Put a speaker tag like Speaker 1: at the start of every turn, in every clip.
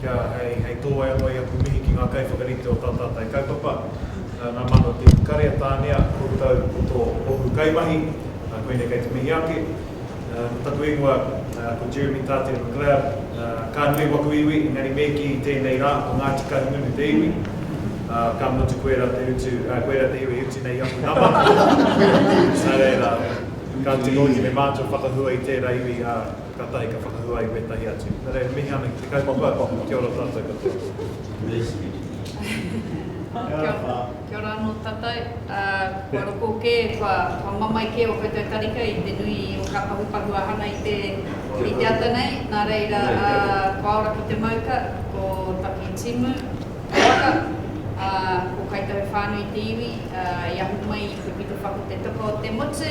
Speaker 1: kia hei, hei tō ai anō i aku mihi ki ngā kaiwhakarite o tā tātai kaupapa, ngā māna o te iwi kare a Tānea, koutou ko tō ohu kaimahi, koinei kei te mihi ake. Ko taku ingoa ko Jeremy Tātere McLeod, ka nui waku iwi, engari me kī i tēnei rā, ko Ngāti Kahungunu te iwi, ka mutu koe rā te utu, koe rā te iwi e utu nei i aku nama. Nā reira, ka tino oti me mātou whakahua i tērā iwi, ā. Katahi ka whakahua i wetahi atu. Na reira, mihi ana ki te kaupapa, kia ora tatou katoa.
Speaker 2: Kia ora ano tatou, kua roko ke, kua mamae ke o koutou tarika i te nui o nga pahupahu a hana i te i te ata nei, na reira kua ora ki te mauka, ko taki timu, ko waka, ko kai tahu whanui te iwi, i ahu mai i te pito whako te toka o te motu.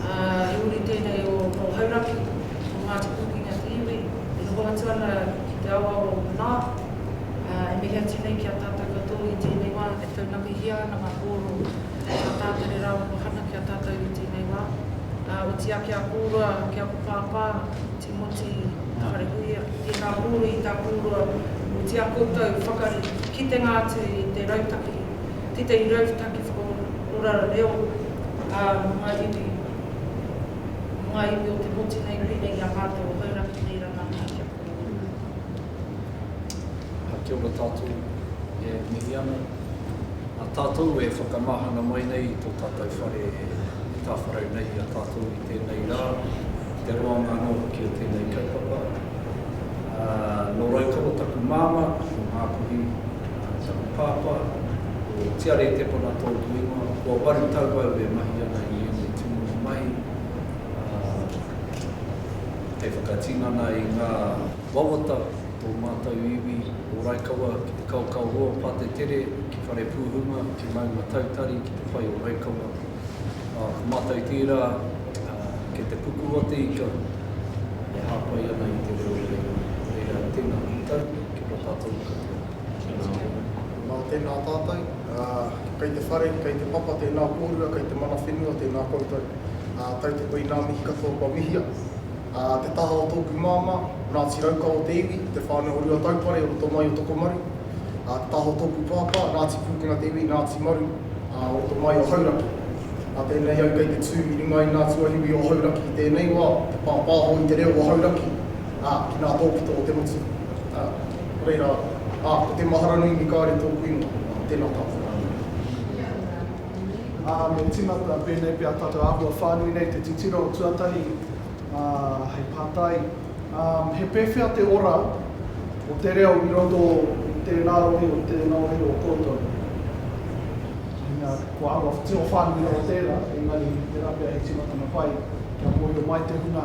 Speaker 3: ā, i muri tēnei o Paul Hauraki, o Ngāti Pūkenga ki te iwi, e noho atu ana ki te aoao o Manaā, ā, e mihi atu nei ki a tātou katoa i tēnei wā e taunakihia ana ngā pōro a Tātari rāua ko Hana ki a tātou i tēnei wā, ā, otīā ki a kōrua, ki a ko Pāpā, Tīmoti Wharehuia. Tēnā pōro i tā kōrua, otīā koutou whakari, kitenga atu i te rautaki. tētahi rautaki whakaora reo ā runga iwi, runga iwi o te motu nei pēnei i a mātou o Hauraki nei rangahau ki a
Speaker 4: koutou. Ā, kia ora tātou, e mihi ana. Ā tātou e whakamahana mai nei i tō tātou whare i tāwharau nei i a tātou i tēnei rā, i te roanga anō hoki o tēnei kaupapa. Ā, nō Raukawa taku māmā, nō Ngāpuhi. Tau Pāpā, ko Tiare Tepona tōku ingoa, kua waru tau au e mahi ana i ēnei tūmomo mahi, hei whakatinana i ngā wawata o tō mātou iwi o Raikawa ki te kaokao roa pātetere, ki Wharepūhunga, ki Maunga Tautari, ki te whai o Raikawa. Ko mātou tērā kei te puku o te ika e hāpai ana i te reo reo. Nō reira, tēnā koutou, kia ora tātou katoa. Nā tēnā
Speaker 5: tātou, kei te whare, kei te papa, tēnā kōrua, kei te mana whenua, tēnā koutou. Tautoko i ngā mihi katoa kua mihia. Te taha o tōku māmā, Ngāti Raukawa o te iwi, te whānau o Ruataupare, o roto mai o Tokomaru. Te taha o tōku pāpā, Ngāti Pūkenga o te iwi, Ngāti Maru, o roto mai o Hauraki. Nā tēnei au kei te tū i runga i ngā tuahiwi o Hauraki i tēnei wā, te pāpāho i te reo o Hauraki. Ā, ki ngā tōpito o te motu. Ā, ko reira, ā, ko te mahara nui me kāore tōku ingoa. Ā, tēnā tātou rānei.
Speaker 6: Ā, me tīmata, pēnei pea tātou āhua whānui nei, te titiro tuatahi, ā, hei pātai, ā, he pēwhea te ora o te reo i roto i tēnā rohe, i tēnā rohe o koutou? Meinga, kua āhua tino whānui rawa tērā, engari, tērā pea he tīmatanga pai kia mōhio mai te hunga.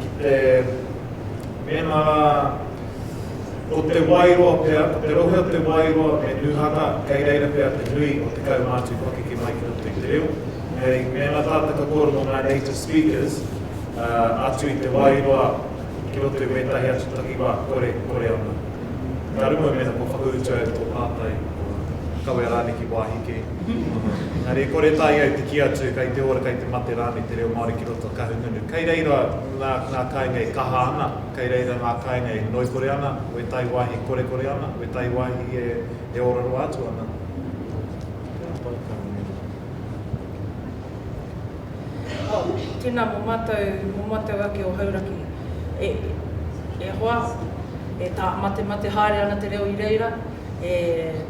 Speaker 1: Ki te mema o Te Wairoa pea, ko te rohe o Te Wairoa me Nūhaka, kei reira pea te nui o te kaumātua i pakeke mai ki roto i te reo. Hei mema tātou ka kōrero mō ngā native speakers atu i Te Wairoa ki roto i wētahi atu takiwā, kore, kore ana. Ka rongo i mēnā kua whakautu ai tō pātai, kua kawe rānei ki wāhi kē. Engari e kore tae ai te kī atu kai te ora, kai te mate rānei te reo Māori ki roto o Kahungunu. Kai reira ngā, ngā kāinga e kaha ana, kai reira ngā kāinga e ngoikore ana, wētahi wāhi e korekore ana, wētahi wāhi e, e ora roa atu ana. Tēnā koa tāu ingoa. Oh, tēnā
Speaker 3: mō mātou, mō mātou ake o Hauraki. E, e hoa, e tā, matemate haere ana te reo i reira. e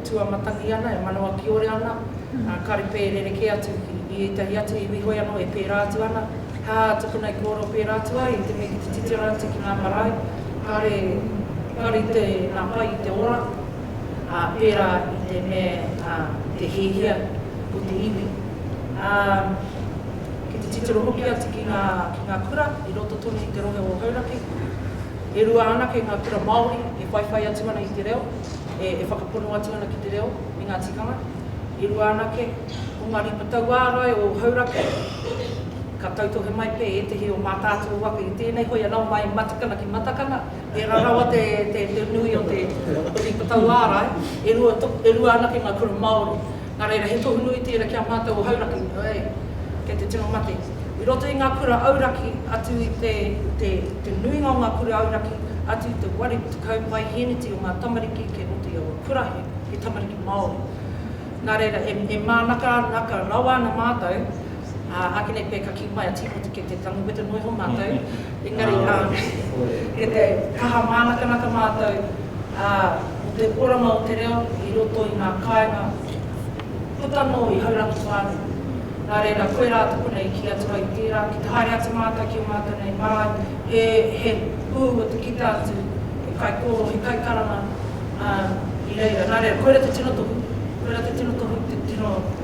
Speaker 3: tuamatangi ana, e manawa kiore ana, ā, kāre pea e rerekē atu i ētahi atu iwi hoi anō e pērā atu ana, hā, tukuna i kōrero pērā atu ai i te mea ki te titiro atu ki ngā marae, kāre, kāre i te, nā, pai i te ora, ā, pērā i te mea, ā, i te hiahia o te iwi. Ā, ki te titiro hoki atu ki ngā, ki ngā kura i roto tonu i te rohe o Hauraki, E rua anake ngā kura Māori e whaiwhai atu ana i te reo, e whakapono atu ana ki te reo me ngā tikanga. E rua anake, ko ngā ripa tauārai o Hauraki, ka tautohe mai pea ētehi o Mātaatua waka i tēnei hoi anō mai i Matakana ki Matakana, tērā rawa te nui o te ripa tauārai. E rua anake ngā kura Māori. Nā reira, he tohu nui tērā ki a mātou o Hauraki, oi, kei te tino mate. I roto i ngā kura auraki atu i te, te, te nuinga o ngā kura auraki atu i te wari tekau paihēneti o ngā tamariki kei roto i aua kura he, he tamariki Māori. Nā reira, e, e mānaka, naka rawa ana mātou, Ā, āke nei pea ka kī mai a Tīmoti kei te tango peta noa iho mātou, engari, ā, kei te kaha mānakanaka mātou, ā, mō te oranga o te reo i roto i ngā kāinga puta noa i Haurangi whānui. Nā reira, koe rā tōku nei i kī atu ai tērā, ki te haere atu mātou ki ō mātou nei marae, he, he pū o te kita atu, he kaikōrō, he kaikaranga, ā, i reira. Nā reira, koira te tino tohu, koira te tino tohu, te tino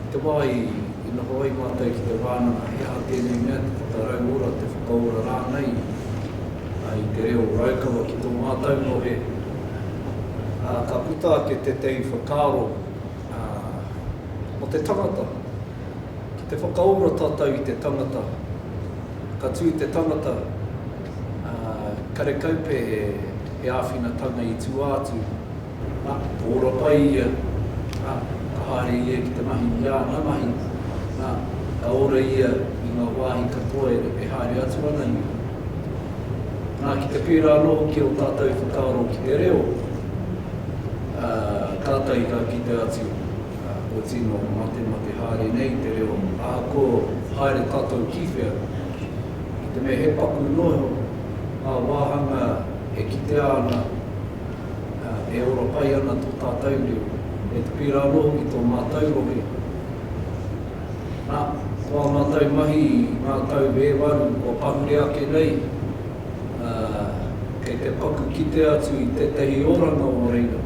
Speaker 4: I te wā i noho ai mātou ki te wānanga, he aha tēnei mea, te whakarau ora, te whakaora rānei i te reo o Raukawa ki tō mātou ngohe. Ā, ka puta ake tētahi whakaaro mō te tangata. Ki te whakaora tātou i te tangata, ka tū te tangata, ā, karekau pea he āwhinatanga i tua atu. Ā, ka ora pai ia, ā, ka haere ia ki te mahi i āna mahi, ā, ka ora ia i ngā wāhi katoa e haere atu ana ia. Nā, ki te pērā anō hoki ō tātou whakaaro ki te reo, ā, kātahi ka kite atu, ā, kua tino matemate haere nei te reo, ahakoa haere tātou ki whea, ki te mea he paku noa iho ngā wāhanga e kitea ana e ora pai ana tō tātou reo, e pērā anō hoki tō mātou rohe. Nā, ko ā mātou mahi i ngā tau e waru kua pahure ake nei, kei te paku kite atu i tētahi oranga o reira.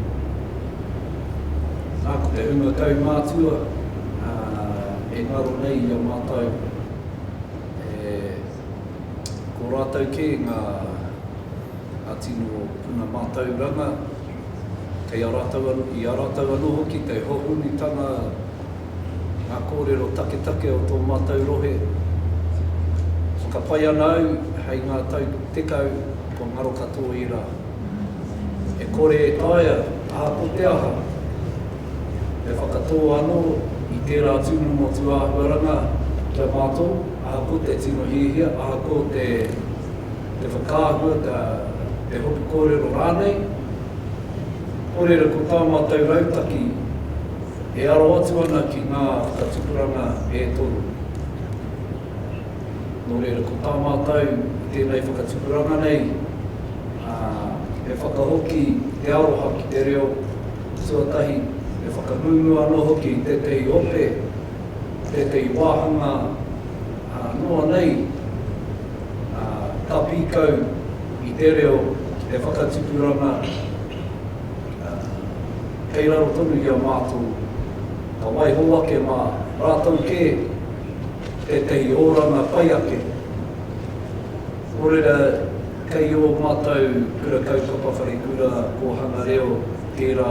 Speaker 4: Nā, ko te hunga kaumātua e ngaro nei i a mātou, ko rātou kē ngā. Ngā tino puna mātauranga, kei a rātou anō, i a rātou anō hoki, kei hohonutanga ngā kōrero taketake o tō mātou rohe. Whakapae ana au, hei ngā tau tekau, kua ngaro katoa ērā. E kore e taea, ā, ko te aha? Me whakatō anō i tērā atu motu āhuaranga ki a mātou, ahakoa te tino hiahia, ahakoa te. Te whakaahua, te, te hopu kōrero rānei. Ko reira, ko tā mātou rautaki, e aro atu ana ki ngā whakatupuranga e toru. Nō reira, ko tā mātou i tēnei whakatupuranga nei, ā, he whakahoki te aroha ki te reo tuatahi, he whakangungu anō hoki i tētehi ope, tētehi wāhanga, ā, noa nei. ā, ka pīkau i te reo e whakatipuranga ana, ā, kei raro tonu i a mātou, ka waiho ake mā rātou kē tētahi oranga pai ake. Nō reira, kei ō mātou Kura Kaupapa Wharekura Kōhanga Reo tērā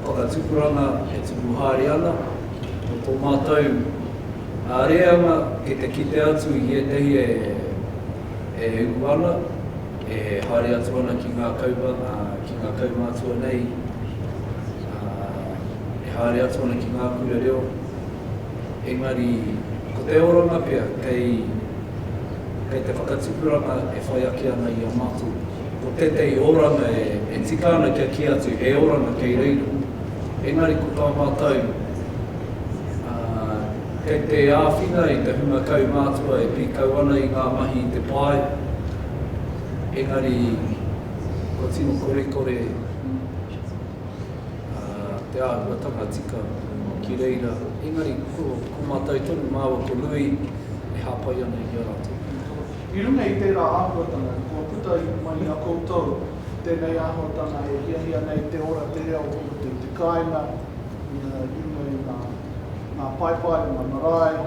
Speaker 4: whakatipuranga e tupu haere ana, mō tō mātou. Ā reanga ki te kite atu i ētahi e ū ana, e haere atu ana ki ngā kaupapa, ki ngā kaumātua nei, ā, e haere atu ana ki ngā kura reo, engari ko te oranga pea kei, kei te whakatupuranga e whai ake ana i a mātou. Ko tētahi oranga e tika ana kia kī atu he oranga kei reira, engari ko tā mātou, ā, kei te āwhina i te hunga kaumātua e pīkau ana i ngā mahi i te pae, engari kua tino korekore te āhuatanga tika ki reira, engari ko mātou tonu māua ko Lui e hāpai ana i a rātou. I runga i
Speaker 6: tērā āhuatanga, kua puta mai i a koutou tēnei āhuatanga e hiahia nei te ora, te reo, te kāinga, i runga i ngā paepae o ngā marae,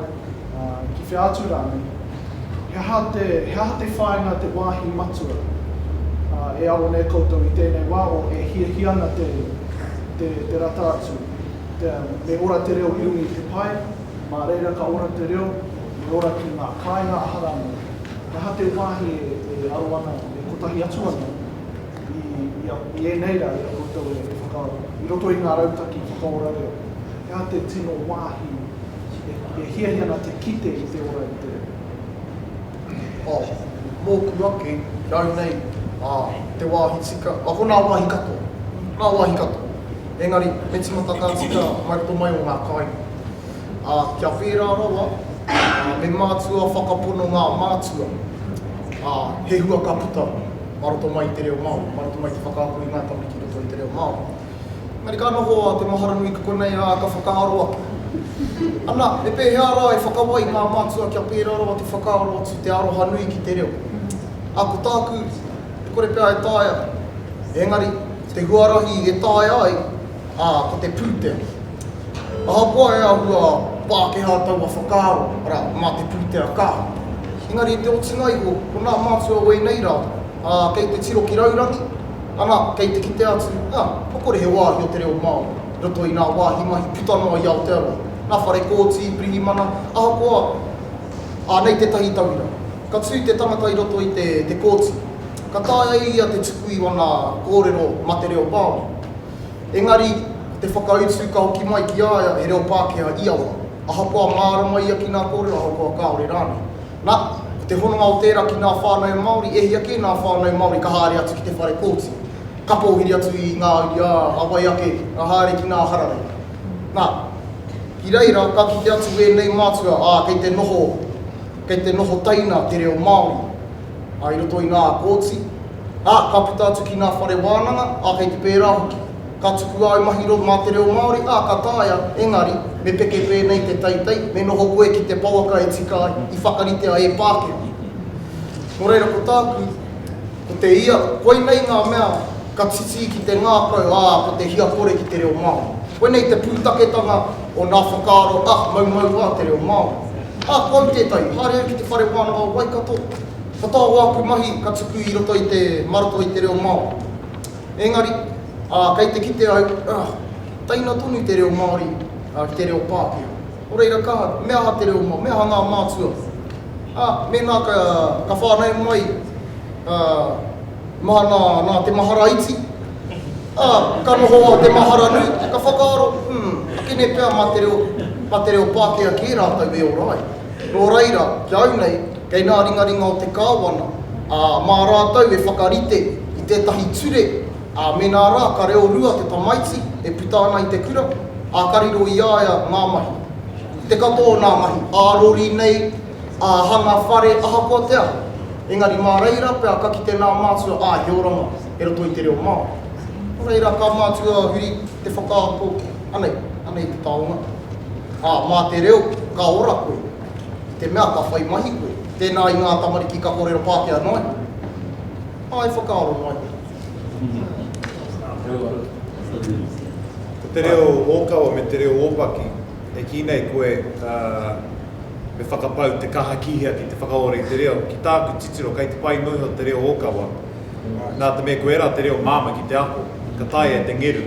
Speaker 6: ki whea atu rānei, he aha te, he aha te whāinga te wāhi matua e aro nei koutou i tēnei wā o e hiahia ana te, te, te rata atu, te, me ora te reo i runga i te pae, mā reira ka ora te reo, me ora ki ngā kāinga aha rānei, he aha te wāhi e, e aro ana, e kotahi atu ana? I ēnei rā, i a koutou e whakaaro, i roto i ngā rautaki whakaora reo, he aha te tino wāhi e hiahia ana te kite i te ora i te reo? Oh,
Speaker 5: mōku ake, nau nei, te wāhi tika, oh, ko ngā wāhi katoa, ngā wāhi katoa. Engari, he tīmata ka tika mai roto mai o ngā kāinga. Kia whērā rawa, me mātua whakapono ngā mātua, he hua ka puta. mā roto mai i te reo Māori, mā roto mai i te whakaako i ngā tamariki i roto i te reo Māori. Engari ka noho a Te Maharanui ki konei, ā, ka whakaaro atu. Ana, me pēhea rā e whakawai ngā mātua kia pērā rawa te whakaaro atu i te aroha nui ki te reo? Ā, ko tāku, e kore pea e taea, engari, te huarahi e taea ai, ā, ko te pūtea. Ahakoa e āhua Pākehā taua whakaaro, arā, mā te pūtea ka. Engari i te otinga iho, ko nā mātua o ēnei rā, ā, kei te tiro ki raurangi, ana, kei te kite atu, ā, kua kore he wāhi o te reo Māori i roto i ngā wāhi mahi puta noa i Aotearoa, ngā whare kōti, pirihimana, ahakoa, ā, nei tētahi tauira. Ka tū te tangata i roto i te kōti, ka taea e ia te tuku i wana kōrero ma te reo Māori. Engari, ko te whakautu ka hoki mai ki a ia he reo Pākehā ia wā, ahakoa mārama ia ki nā kōrero ahakoa kāore rānei. Na, ko te hononga o tērā ki nā whānau Māori, e hia kē nā whānau Māori ka haere atu ki te whare kōti, ka pōhiri atu i ngā uri a wai ake, ka haere ki nā hararei. Na, ki reira, ka kite atu ēnei mātua, ā, kei te noho. Kei te noho taina te reo Māori i roto i ngā kōti, ā, ka puta atu ki ngā whare wānanga, ā, kei te pērā hoki. Ka tuku āu mahi mā te reo Māori, ā, ka taea, engari, me peke pēnei te teitei, me noho koe ki te pouaka e tika ai, i whakaritea e Pākehā. Nō reira, ko tāku. Ko te ia, koinei ngā mea ka titī ki te ngākau, ā, ko te hia kore ki te reo Māori. Koinei te pūtaketanga o nā whakaaro ahmaumau a te reo Māori. Ā, ko au tētahi, haere au ki te Whare Wānanga o Waikato, ka taea āku mahi ka tuku i roto i te, mā roto i te reo Māori. Engari, ā, kei te kite au, ā, teina tonu te reo Māori ki te reo Pākehā. Nō reira, ka, me aha te reo, me aha ngā mātua? Ā, mēnā ka whānau mai māna nā te mahara iti, ā, ka noho a te mahara nui, ka whakaaro, Umm, kene pea mā te reo, mā te reo Pākehā kē rātou e ora ai. Nō reira, ki au nei, kei ngā ringaringa o te Kāwana, ā, mā rātou e whakarite i tētahi ture, ā, mēnā rā ka reo rua te tamaiti e puta ana i te kura, ā, ka riro i a ia ngā mahi. Te katoa o nā mahi ā-rori nei, ā-hanga whare, ahakoa te aha, engari mā reira pea ka kite nā mātua āhioranga e roto i te reo Māori. Nō reira, ka mātua huri te whakaako, anei, anei te taonga, ā, mā te reo ka ora koe, i te mea ka whai mahi koe, tēnā i ngā tamariki ka kōrero Pākehā noa iho, ā, e whakaaro noa iho.
Speaker 1: Ko te reo ōkawa me te reo ōpaki, e kī nei koe, ā, me whakapau te kaha kīhea ki te whakaora i te reo. Ki tāku titiro, kei te whai noa iho te reo ōkawa, nā te mea ko ērā te reo māmā ki te ako, ka taea e te ngeru.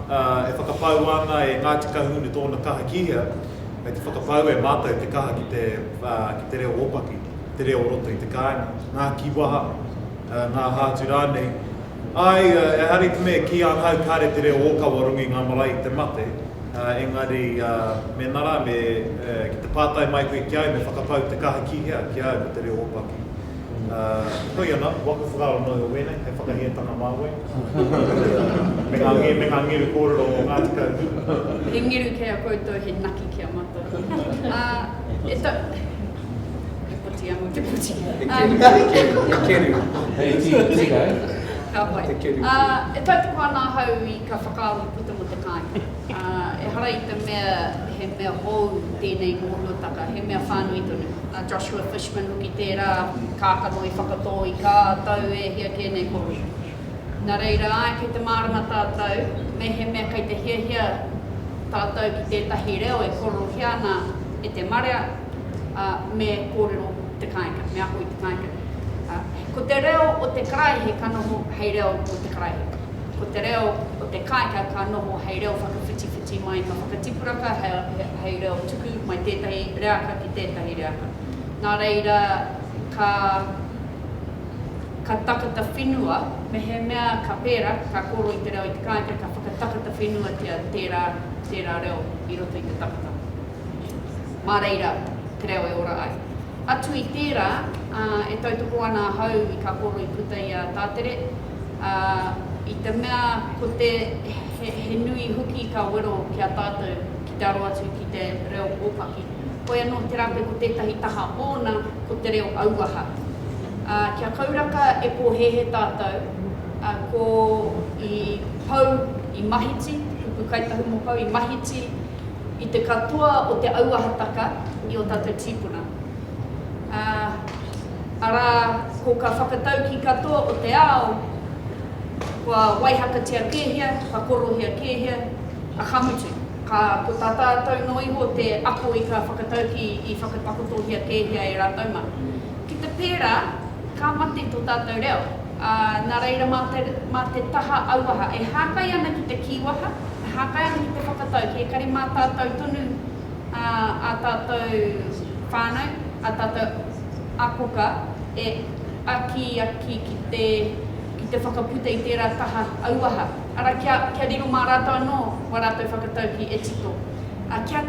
Speaker 1: ā, e whakapaua ana e Ngāti Kahungunu tōna kaha ki hea, kei te whakapaua e mātou te kaha ki te, ā, ki te reo ōpaki, te reo o roto i te kāinga, ngā kīwaha, ā, ngā hātu rānei. Āe, ehara i te mea ki ahau kāre te reo ōkawa rongo i ngā marae i te mate, ā, engari, ā, mēnā rā me, ā, ki te pātai mai koe ki au me whakapau te kaha ki hea, ki au ko te reo ōpaki. Heoi ana, waka whakaaro nō iho wēnei, hei whakahētanga mā koe, me ngā ngeru kōrero o Ngāti Kahungunu. He ngeru kei
Speaker 2: a koutou, he naki ki a mātou. E tau. He poti anō te poti. He
Speaker 4: keru. He keru. Ka
Speaker 2: pai. E tautoko ana ahau i ka whakaaro puta mō te kāinga. Ā, ehara i te mea he mea hou tēnei mōhiotaka, he mea whānui tonu. A Joshua Fishman hoki tērā, kākano i whakatō i kā tau e hia kē nei ko Reid. Nā reira, āe, kei te mārama tātou, mehemea kei te hiahia tātou ki tētahi reo e kōrerohia ana e te marea, ā, me kōrero te kāinga, me ako i te kāinga. Ā, ko te reo o te karaehe ka noho hei reo mō te karaehe. Ko te reo o te kāinga ka noho hei reo whakawhitiwhiti mai, ka whakatipuraka hei reo tuku mai tētahi reaka ki tētahi reaka. Nā reira, ka, ka takata whenua, mehemea ka pērā, ka kōrero i te reo i te kāinga, ka whakatakata whenuatia tērā, tērā reo i roto i te takata. Mā reira te reo e ora ai. Atu i tērā, e tautoko ana ahau i kā kōrero i puta i a Tātere, ā, i te mea ko te, he, he nui hoki ka wero ki a tātou ki te aro atu ki te reo ōpaki. Hoi anō, tērā pea ko tētahi taha ōna ko te reo auaha. Ā, kia kauraka e pōhēhē tātou, ā, ko, i pau, i mahiti, kupu Kai Tahu mō Pau, i mahiti i te katoa o te auahataka i ō tātou tīpuna. ā, arā, ko ka whakatauki katoa o te ao, kua waihakatia kēhia, ka korohia kēhia, a ka mutu, ka, ko tā tātou noa iho te ako i ka whakatauki i whakatakotohia kēhia e rātou mā. Ki te pērā, ka mate tō tātou reo, ā, nā reira mā te, mā te taha auaha, e hākai ana ki te kīwaha, e hākai ana ki te whakatauki, ekari mā tātou tonu, ā, ā tātou whānau, ā tātou akoka e akiaki ki te, ki te whakaputa i tērā taha auaha, arā, kia, kia riro mā rātou anō wā rātou whakataukī e tito, ā, kia,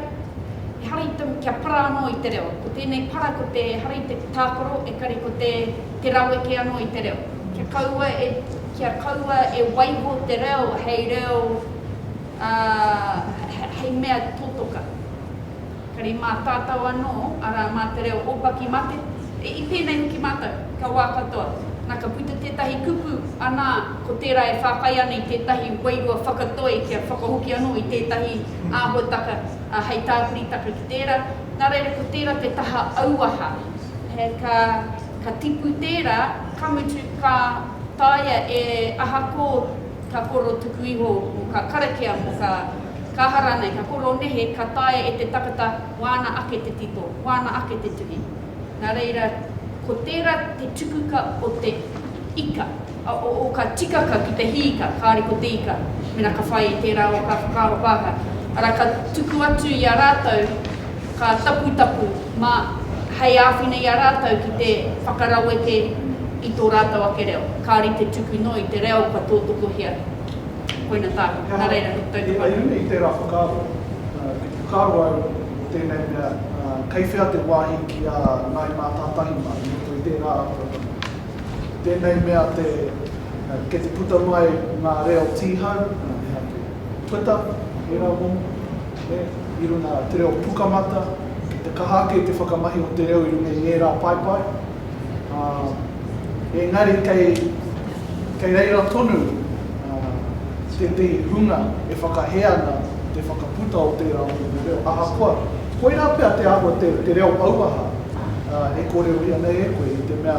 Speaker 2: ehara i te, kia para anō i te reo. Ko tēnei para ko te, ehara i te tākaro, ekari ko te, te raweke anō i te reo. Kia kaua e, kia kaua e waiho te reo hei reo. Ā, hei mea totoka, kare mātātau anō, arā, mā te reo ōpaki mate, i pēnei hoki mātou, kia wā katoa, nā ka puta tētahi kupu, anā, ko tērā e whākai ana i tētahi wairua whakatoi kia whakahoki anō i tētahi āhuataka hei tāpiritaka ki tērā, nā reira ko tērā te taha auaha, he ka, ka tipu tērā, ka mutu, ka taea e ahakō. Ka koro tuku iho mō kā karakia, mō kā kaha rānei, ka koro nehe, ka taea e te takata wāna ake te tito, wāna ake te tuhi. Nā reira, ko tērā te tukuka o te ika, o kā tikaka ki te hī ika, kāore ko te ika, mēnā ka whai i tērā o kā whakaaro pāka, arā, ka tuku atu i a rātou Ka taputapu mā hei āwhina i a rātou ki te whakaraweke i tō rātou ake reo. Kāore i te tuku noa i te reo kua tōtokohia. Koina tāku. Nā reira, he tau te whare. Hei runga i tērā whakaaro,
Speaker 6: i whakaaro au mō tēnei mea, kei whea te wāhi ki a Ngāi Mātātahi mā i roto i tērā āhuatanga? Ko tēnei mea te, kei te puta mai ngā reo tīhau, ehake, Twitter, ērā momo, i runga te reo Pukamata, ki te kaha ake i te whakamahi o te reo i runga i ngērā paepae, ā, engari kei, kei reira tonu tētehi hunga e whakahē ana te whakaputa o tērā o ngā reo, ahakoa, koirā pea te āhua te, te reo auaha e kōrerohia nei e koe, i te mea,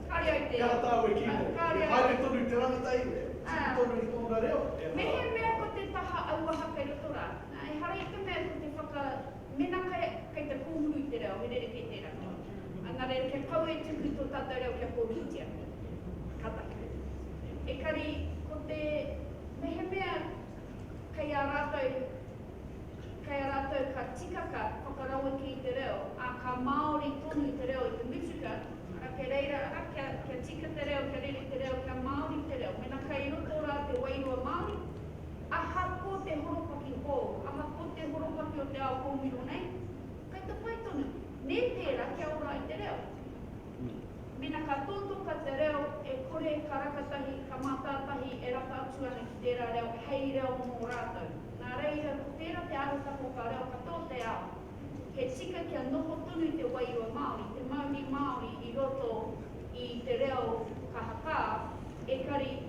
Speaker 6: Kāre au te. He aha tāu e kī nei? Kāre au. He haere tonu te rangata i. E tika
Speaker 2: tonu i tōna reo? E aha. Mehemea ko te taha auaha kei roto rā. Nā, ehara i te mea ko te whaka, mēnā kei, kei te kōhuru i te reo, he rerekē tērā. Engari, kia pau e tuku tō tātou reo kia kōhurutia. Ka tahi. Ekari, ko te, mehemea kei a rātou. Kei a rātou ka tikaka whakaraweke i te reo, ā, ka māori tonu te reo i te mutuka, arā, kei reira, arā, kia, kia tika te reo, kia rere te reo, kia māori te reo. Mēnā kei roto rā te wairua Māori, ahakoa te horopaki hou, ahakoa te horopaki o te ao kōmiro nei, kei te pai tonu, nē tērā kia ora ai te reo. Ui. Mena ka totoka te reo, e kore ka rakatahi, ka mātātahi e rata atu ana ki tērā reo hei reo mō rātou. Nā reira, ko tērā te arataki o kā reo katoa o te ao, he tika kia noho tonu te wairua Māori, te mauri Māori i roto i te reo ka hakā, ekari,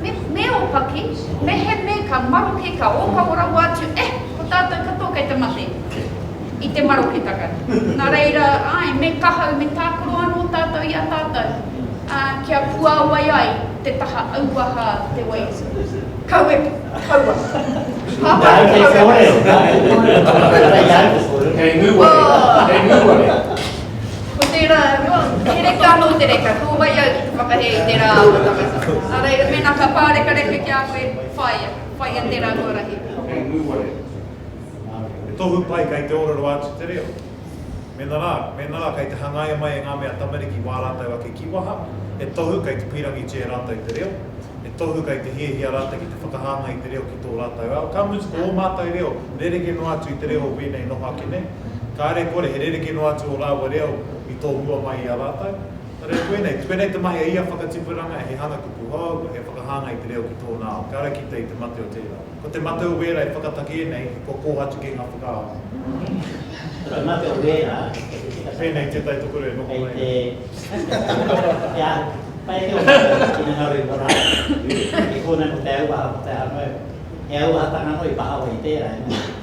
Speaker 2: Me opaki, meheme ka maroke ka ohawa rawa atu, eh, ko tatou katoa kei te mate i te maroketanga. Na reira, ae, me kahau, me takoro ano tatou i a tatou, a, kia puawai ai te taha auaha te wai. Kaua, kaua. Papa
Speaker 7: i te kaua. Kei nguware, kei nguware.
Speaker 2: Ko tērā, he reka anō te reka, ko wai au ki te whakahē i tērā āta tangata. Nā reira, mēnā ka pārekareka ki a koe, whāia, whāia tērā huarahi. Hei ngūware,
Speaker 1: he tohu pai kei te ōrero atu te reo. Mēnā rā, mēnā rā kei te hangaia mai e ngā mea tamariki wā rātou ake kīwaha, he tohu kei te pīrangi tē rātou te reo, he tohu kei te hiahia rātou ki te whakahāngai i te reo ki tō rātou ao, ka mutu ko ō mātou reo rerekē noa atu i te reo o wēnei noho ake nei. Kāre kore he rerekē noa atu ō rāua reo i tohua mai i a rātou. Nō reira, koinei, koinei te mahi a ia whakatipuranga, he hanga tupu hou, he whakahāngai i te reo ki tōna ao. Kia ora kite i te mate o tērā. Ko te mate o wēra e whakatakē nei, kua kōhatu kē ngā whakaaro. Ko te mate
Speaker 7: o wēra, kei te tika tahi. Pēnei
Speaker 1: tētahi tokorua e noho mai nei. Kei te kia
Speaker 7: whai ake o mātou ina ngaro i tō rātou. E kōnei ko te auaha, ko te aha noa iho. He auahatanga noa i pahawa i tērā, engari.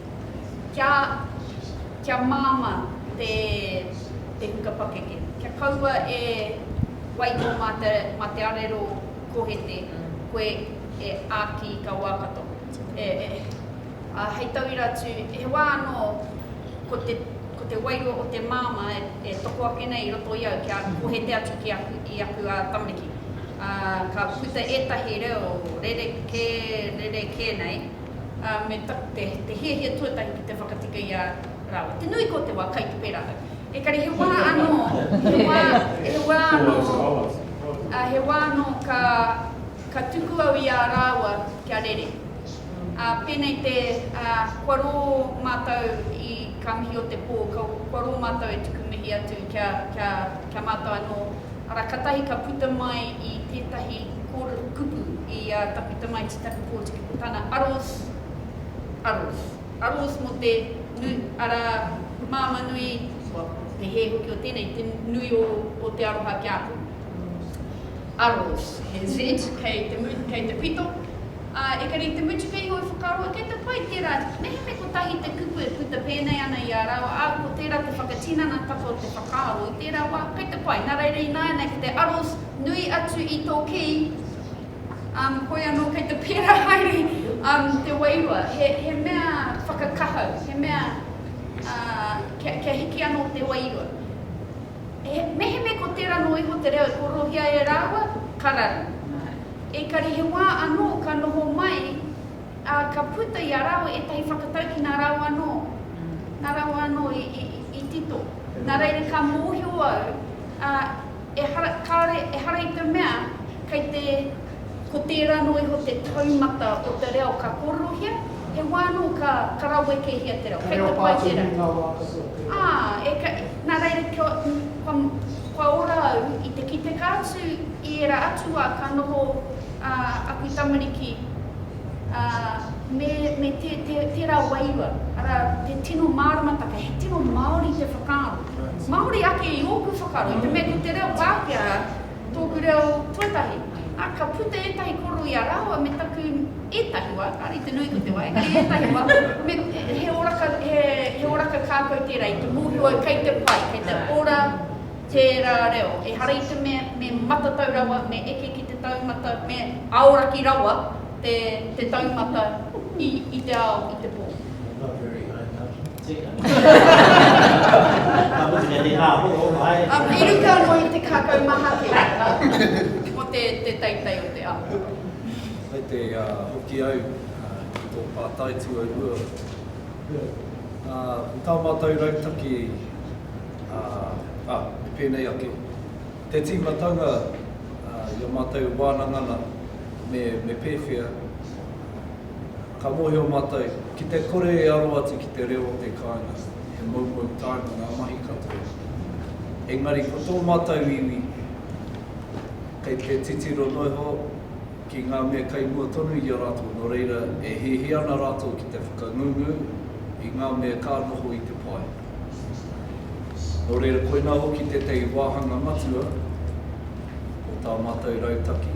Speaker 2: kia māmā te huka pakeke, kia kaua e waiho mā te arero kohete koe e āki i kā wā katoa. Hei tauira atu, he wā anō ko te wairua o te māmā e toko ake nei i roto i au kia kohete atu ki i aku tamariki. Ka puta ētahi reo rerekē, rerekē nei, ā, me taku te, te hiahia tuatahi ki te whakatika i a rāua. Te nui ko te wā, kai te pērā au. Ekari he wā anō, he wā, he wā anō, ā, he wā anō ka, ka tuku au i a rāua kia rere. Ā, pēnei te, ā, kua rō mātou i kā mihi o te pō, kau, kua rō mātou e tuku mihi atu kia, kia, kia mātou anō, Arā katahi ka puta mai i tētahi kōrero kupu i a Takuta Mai Titaku Pōtiki ko tana aros, aros, aros mō te nu, arā, māmā nui, kua, te hē hoki o tēnei, te nui o, o te aroha ki a koe. Aros, he Z kei te, kei te pito. Ā, ekari i te mutu kei iho i whakaroa, kei te pai tērā, mehemea kotahi te kupu e puta pēnei ana i a rāua, ā, ko tērā te whakatinanatanga o te whakaaro, i tērā wā, kei te pai. Nā reira ināianei ko te aro nui atu i tō kī, um, hoi anō kei te pērā haere um, te wairua, he, he mea whakakahau, he mea, ā, uh, kia, kia hiki anō te wairua. He mehemea ko tērā nō iho te reo e kōrerohia e rāua, ka raru. Ekari he wā anō ka noho mai, ā, ka puta i a rāua ētahi whakatau ki nā rāua anō, nā rāua anō i, i, i tito. Nā reira ka mōhio au, ā, ehara, kāore, ehara i te mea kei te. Ko tērā anō iho te taumata o te reo ka kōrerohia, he wā anō ka, ka rawekehia te reo. He reo pātuhi ngā wā katoa o te reo. Ā, e ka, nā reira kia, kua, kua ora au i te kiteka atu i ērā atu wā ka noho ā, aku tamariki, ā, me, me tē, tē, tērā wairua, arā, te tino māramataka, he tino Māori te whakaaro. Māori ake i ōku whakaaro, i te mea ko te reo Pākehā, Tōku reo tuatahi. Ā, ka puta ētahi koroia rāua me taku ētahi wā, kāre i te nui ko te wā, engari ētahi wā, me, he oraka, he, he oraka kākau tērā i te mōhio au kei te pai, kei te ora tērā reo. Ehara i te mea me matatau rawa, me eke ki te taumata, me aoraki rawa te, te taumata i, i te ao, i te pō. Not very high, no. Teka. Ka mutu kei tēnā horo, ae. Um, i ruka anō i te kākau maha ki a rātou. Ko te, te teitei o te ao. Kei te
Speaker 4: uh, hoki au uh, ki tō pātai tuarua. Yeah. Uh, ko tā mātou rautaki, uh, ah, me pēnei ake, te tīmatanga uh, i a mātou wānangana me, me pēwhea, Ka mōhio mātou, ki te kore e aro atu ki te reo o te kāinga, he moumou taonga ngā mahi katoa. Engari ko tō mātou iwi, kei te titiro noa iho ki ngā mea kei mua tonu i a rātou, nō reira e hiahia ana rātou ki te whakangungu i ngā mea ka noho i te pae. Nō reira koinā hoki tētahi wāhanga matua o tā mātou rautaki.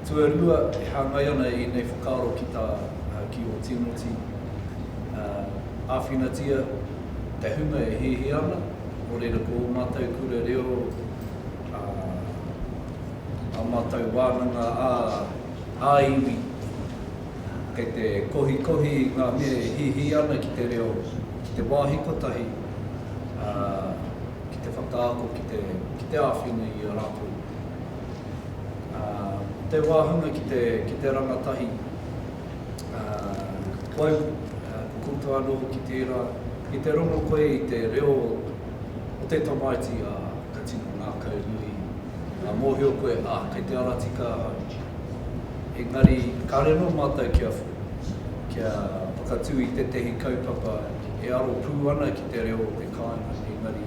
Speaker 4: Tuarua, e hāngai ana ēnei whakaaro ki tā ki ō Tīmoti, ā, āwhinatia te hunga e hiahia ana, nō reira ko ō mātou kura reo, ā, ā mātou wānanga ā, ā iwi, kei te kohikohi i ngā mea e hiahia ana ki te reo, ki te wāhi kotahi, ā, ki te whakaako, ki te, ki te āwhina i a rātou. te wāhanga ki te, ki te rangatahi whai pukupuku anō hoki tērā, i te rongo koe i te reo o te tamaiti, ā, ka tino ngākau nui, ka mōhio koe, ā, kei te ara tika ahau. Engari, kāre anō mātou kia, kia whakatū i tētehi kaupapa e aro pū ana ki te reo o te kāinga, engari,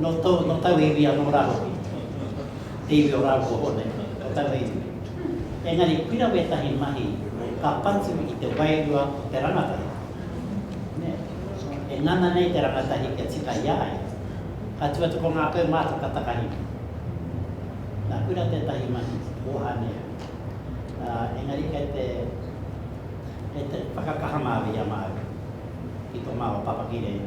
Speaker 7: No to, no tau iwi ano ra hoki. Te iwi o Raropoho nei, ko taua iwi. Engari pira wetahi mahi ka patu i te wairua o te rangatahi. Ne. E ngana nei te rangatahi kia tika i a ia. Ka tu atu ko nga peu matou ka takahina. Na kura tetahi mahi o Anea. A, engari kei te, kei te whakakaha maru i a matou ki to mao papakire.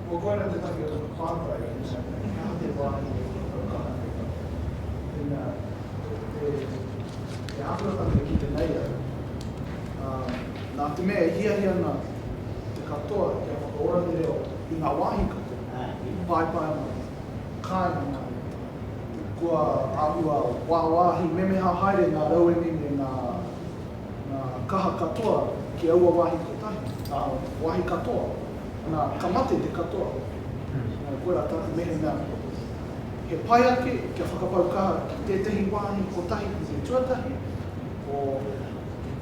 Speaker 7: Kua koina
Speaker 6: tētahi o taku pātai ki nā iwi, he aha te wāhi e whakatau ana e tātou? Ina, e āhua tana e kite nei au, ā, nā te mea e hiahia ana te katoa kia whakaora te reo i ngā wāhi katoa, paepae mai, kāinga mai, kua āhua wāwāhi memeha haere ngā rauemi me ngā. Ngā kaha katoa ki aua wāhi kotahi, ā, wāhi katoa, nā, ka mate te katoa. Nō koirā tāku mehemea he pai ake kia whakapau kaha ki tētehi wāhi kotahi ki te tuatahi, ko,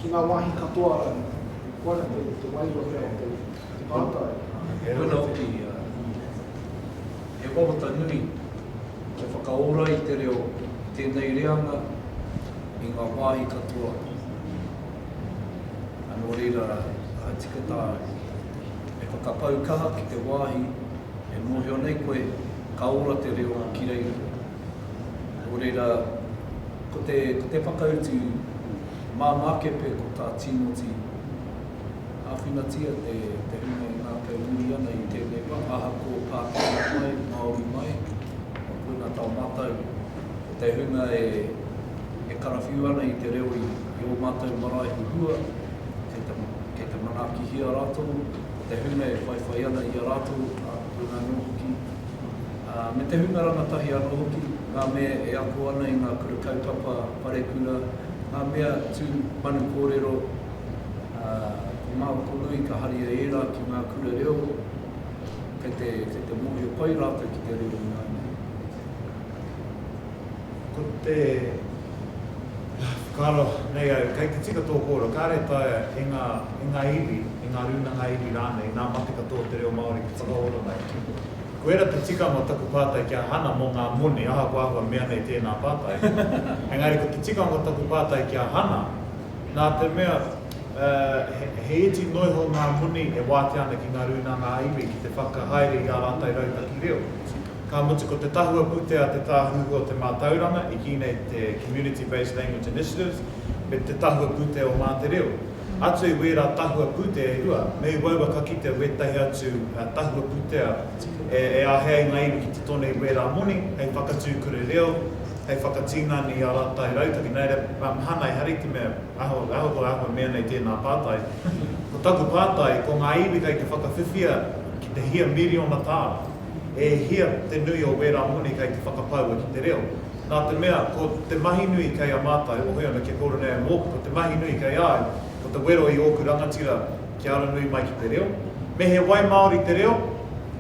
Speaker 6: ki ngā wāhi katoa rānei. Koirā te, te wairua pea o te, te pātai. Ā, he. Koina hoki,
Speaker 4: ā, he wawata nui. Kia whakaora i te reo i tēnei reanga, i ngā wāhi katoa ā, nō reira ka tika tāu e whakapau kaha ki te wāhi e mōhio nei koe ka ora te reo ki reira. Nō reira, ko te whakautu māmā kepe ko tā Tīmoti. Āwhinatia te hine e ngākau muri ana i tēnei wā, ahakoa Pākehā mai, Māori mai, kua puna tau mātou, ko te hunga e karawhiu ana i te reo i ō mātou marae huhua, kei te manaakihia rātou, ko te hunga e whaiwhai ana i a rātou, ā, puna anō hoki, ā, me te hunga rangatahi anō hoki, ngā mea e ako ana i ngā kura kaupapa, parekura, ngā mea tū manu kōrero, ā, ko ngā roto nui ka haria ērā ki ngā kura reo, kei te, kei te mōhio pai rātou ki te reo ināianei.
Speaker 1: Ko te, whakaaro nei au, kei te tika tō kōrero, kāre taea e ngā, e ngā iwi, e ngā rūnanga iwi rānei, nā mate katoa te reo Māori te whakaoranga e kiko. Koira te tikanga o taku pātai ki a Hana mō ngā moni, ahakoa ahua mea nei tēnā pātai, engari ko te tikanga o taku pātai ki a Hana, Nā te mea, he iti noa iho ngā moni e wātea ana ki ngā rūnanga ā-iwi ki te whakahaere i ā rātou rautaki reo. Ka mutu ko te tahua pūtea te tāhuhu o te mātauranga, i kī nei te Community Based Language Initiatives, me te tahua pūtea o Mā Te Reo. Atu i wērā tahua pūtea e rua, me i waua ka kitea wētahi atu tahua pūtea e āhei ai ngā iwi ki te tone i wērā moni hei whakatū kura reo, hei whakatinana i ā rātou rautaki, nā reira, nā Hānai Hari te mea, ahakoa ahua mea nei tēnā pātai, ko taku pātai, ko ngā iwi kei te whakawhiwhia ki te hia miriona tāra, e hia te nui o wērā moni kei te whakapaua ki te reo? Nā te mea, ko te mahi nui kei a mātou, o hoi ana kia kōrero nei au mōku, ko te mahi nui kei a au, ko te wero i ōku rangatira, Kia ara nui mai ki te reo. Me he wai Māori te reo,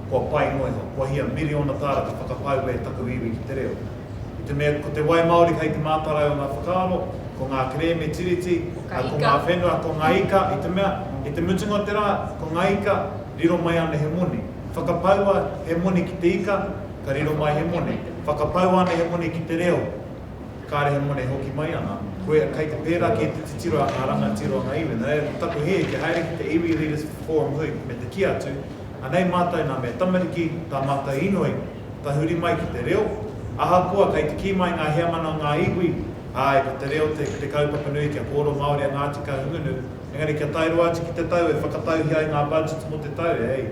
Speaker 1: kua pai noa iho. Kua hia miriona tāra te whakapau e taku iwi ki te reo. I te mea ko te wai Māori hei te mātarai o ngā whakaaro, ko ngā kerēme Tiriti, ā, ko ngā whenua, ko ngā ika, i te mea, i te mutunga o te rā, ko ngā ika, riro mai ana he moni. Whakapaua he moni ki te ika, ka riro mai he moni. Whakapaua ana he moni ki te reo. Kāre he moni e hoki mai ana. Koia, kei te pērā kē te titiro a ngā rangatira o ngā iwi. Nō reira, ko taku hē kia haere ki te Iwi Leaders Forum hui, me te kī atu, Anei mātou nā mea tamariki, tā mātou inoi, tahuri mai ki te reo, ahakoa kei te kī mai ngā heamana o ngā iwi, āe, ko te reo te kaupapa nui kia kōrero Māori a Ngāti Kahungunu, Engari kia tae roa atu ki te tau e whakatauhia ai ngā budget mō te tau, e hei,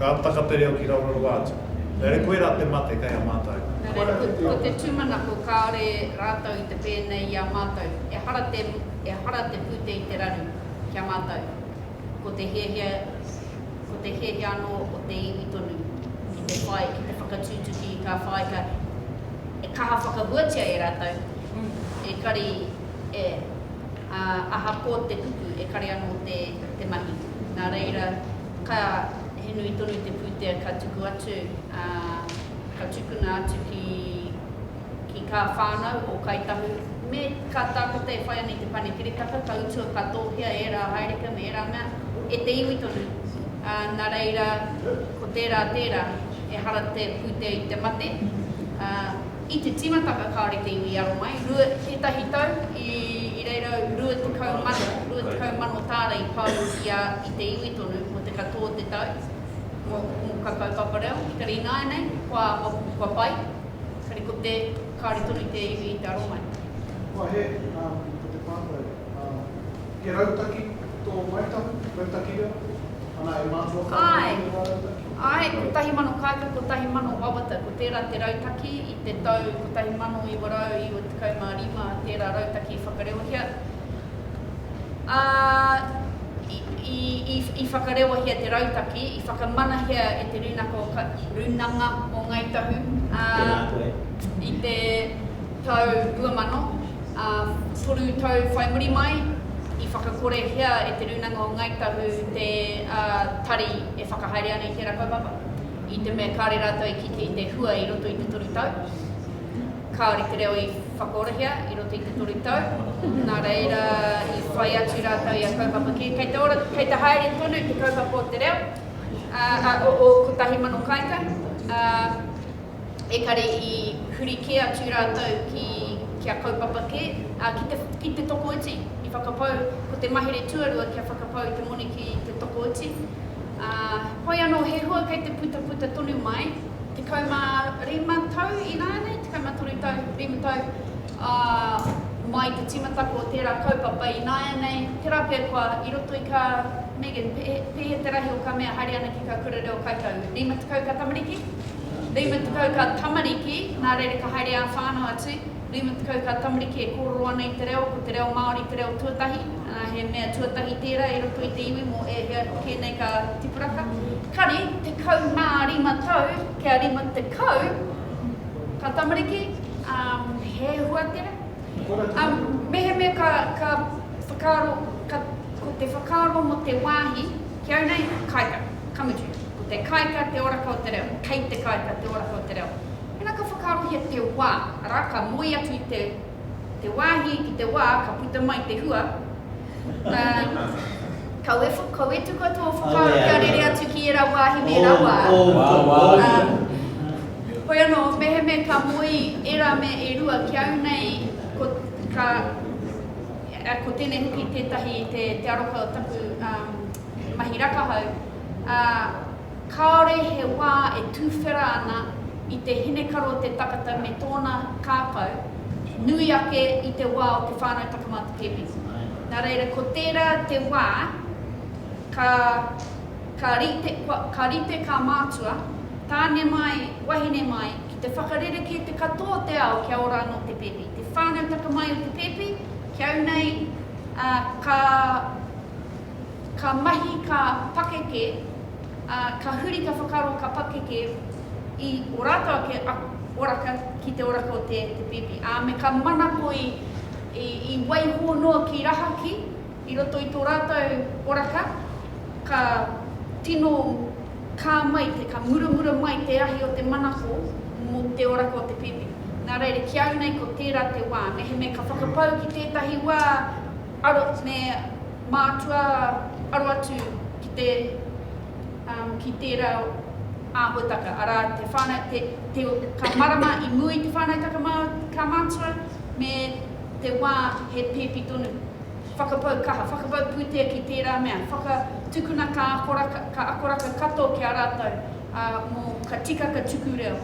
Speaker 1: ka taka te reo ki raororoa atu. Engari koirā te mate kei a mātou. Nō reira, ko te
Speaker 2: tūmanako kāore rātou i te pēnei i a mātou, ehara te, ehara te pūtea i te raru ki a mātou. Ko te hiahia, ko te hiahia anō o te iwi tonu ki te whai, ki te whakatutuki ka whai, ka, e kaha whakahuatia e rātou, ekari e. ā, ahakoa te kupu e kare anō te, te mahi. Nā reira, ka, he nui tonu te pūtea ka tuku atu, ā, ka tukuna atu ki, ki kā whānau o Kāi Tahu, me kā tākuta e whai ana i te Pane Kiritaka, ka utua ka tōhea ērā haerika me ērā mea e te iwi tonu, ā, nā reira, ko tērā tērā, ehara te pūtea i te mate, ā, I te tīmatanga kāore te iwi i aro mai, rua, tētahi tau, i, i reira rua tekau mano, rua tekau mano tāra i pau i a, i te iwi tonu, mō te katoa o te tau, mō, mō koutou papa reo, engari ināianei, kua, kua, kua pai, engari ko te, kāore tonu te iwi i te aro mai. Kua he, ā,
Speaker 6: ko te pātai, ā. He rautaki tō Ngāi Tahu, rautaki
Speaker 2: reo, ana e mātua kau ana ki ō rautaki? Āe, āe, 1000 kāika, 1000 wawata, ko tērā te rautaki i te tau 1995 tērā rautaki i whakareohia, ā, i, i, i whakareohia te rautaki, i whakamanahia e te Rūnanga o Ngāi Tahu, ā, i te. Tau 2000, ā, toru tau whai muri mai, i whakakorehia e Te Rūnanga o Ngāi Tahu te tari e whakahaere ana i tērā kaupapa, i te mea kāore rātou i kite i te hua i roto i te toru tau. Kāore te reo i whakaorahia i roto i te toru tau, nā reira i whai atu rātou i a kaupapa kē. Kei te ora, kei te haere tonu te kaupapa o te reo, ā, o 1000 kāinga, ā, ekare i huri kē atu rātou ki kia kaupapa kē, ā, ki te, ki te tokoiti, i whakapau, ko te mahere tuarua kia whakapau i te moni ki te tokoiti. Ā, hoi anō, he hua kei te putaputa tonu mai, 15 tau ināianei, 13 tau, 5 tau, ā, mai te tīmatako o tērā kaupapa ināianei, tērā pea koa i roto i kā, Megan, pēhea te rahi o kā mea haere ana ki kā kura reo kaikau, 50 kā tamariki? 30 ka tamariki, nā reira ka haere ā-whānau atu, 30 ka tamariki e kōrero ana i te reo, ko te reo Māori te reo tuatahi, ā, he mea tuatahi tērā i roto i te iwi mō ēhea kē nei ka tipuraka. Kare, 15 tau kia 50 ka tamariki, ā, he hua tērā. Ā, mehemea ka, ka whakaaro, ka, ko te whakaaro mō te wāhi, Ki au nei, Kaika, Kamutu. Ko te Kaika te oraka o te reo. Kei te Kaika te oraka o te reo. Tēnā ka whakaarohia te wā, arā, ka moe atu i te, te wāhi ki te wā ka puta mai te hua, ā, ka wewh, ka wetu kau tō whakaaro kia rere atu ki ērā wāhi me ērā wā. Ā, hoi anō, mehemea ka moe ērā mea e rua, ki au nei, ko, ka, Ko tēnei hoki tētahi te aroha o taku mahi rakahau, ā, kāore he wā e tūwhera ana i te hinekaro te takata me tōna kākau, nui ake i te wā o te whānau takamata pēpēti. Nā reira, ko tērā te wā ka, ka rite, ka rite kā mātua, tāne mai, wahine mai, ki te whakarerekē te katoa o te ao kia ora anō te pēpi. Te whānau taka mai o te pēpi ki au nei, ā, ka, ka mahi, ka pakeke, ā, ka huri ka whakaaro, ka pakeke i o rātou ake oraka ki te oraka o te, te pēpi, ā, me ka manako i, i, i waiho noa ki rahaki. I roto i tō rātou poraka, ka tino kā mai te, ka muramura mai te ahi o te manako mō te oraka o te pēpi. Nā reira, ki au nei ko tērā te wā, mehemea ka whakapau ki tētahi wā aro, me mātua aro atu ki te, ki tērā āhuataka, arā, te whānau, te, te, ka marama i mua i te whānautaka mā, ka mātua, me te wā he pēpi tonu. Whakapau kaha, whakapau pūtea ki tērā mea, whakatukuna ka akoraka, ka akoraka katoa ki a rātou, ā, mō ka tika ka tuku reo,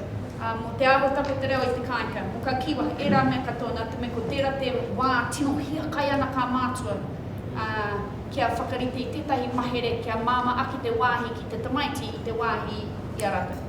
Speaker 2: ā, mō te arotake te reo i te kāinka, mō ka kiwa, ērā mea katoa, nā te mea ko tērā te wā tino hiakai ana kā mātua, ā, kia whakarite i tētahi mahere kia māmā ake te wāhi ki te tamaiti i te wāhi i a rātou.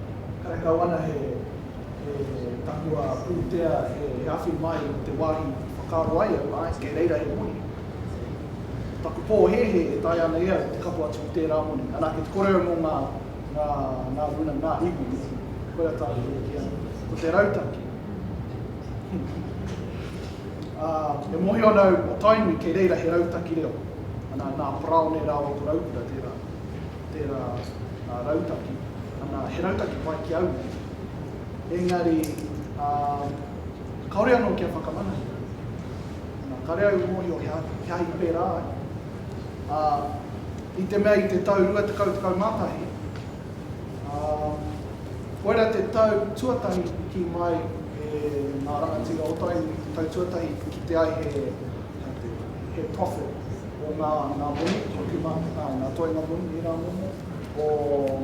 Speaker 6: karekau ana he takua pūtea e awhi mai i te wāhi i whakaaro ai au, āe, kei reira he moni. Ko taku pōhēhē e taea ana e au te kapo atu ki tērā moni, anake te kore au mō ngā, ngā, ngā guna, ngā iwi hoki, koirā tāku e kī ana, ko te rautaki. Ā, e mōhio ana au, o Tainui, kei reira he rautaki reo, ana, nā Paraone rāua ko Raukura tērā. tērā rautaki, ana, he rautaki pai ki au nei, engari, ā, kāore anō kia whakamanahia. Nā, kāre au i mōhio he aha i pērā ai. Ā, i te mea i te tau 2011, ā, koira te tau tuatahi i kī mai e ngā rangatira o Tainui, te tau tuatahi i kite ai he, he profit, o ngā moni hoki mā, ngā toenga moni, ērā momo, o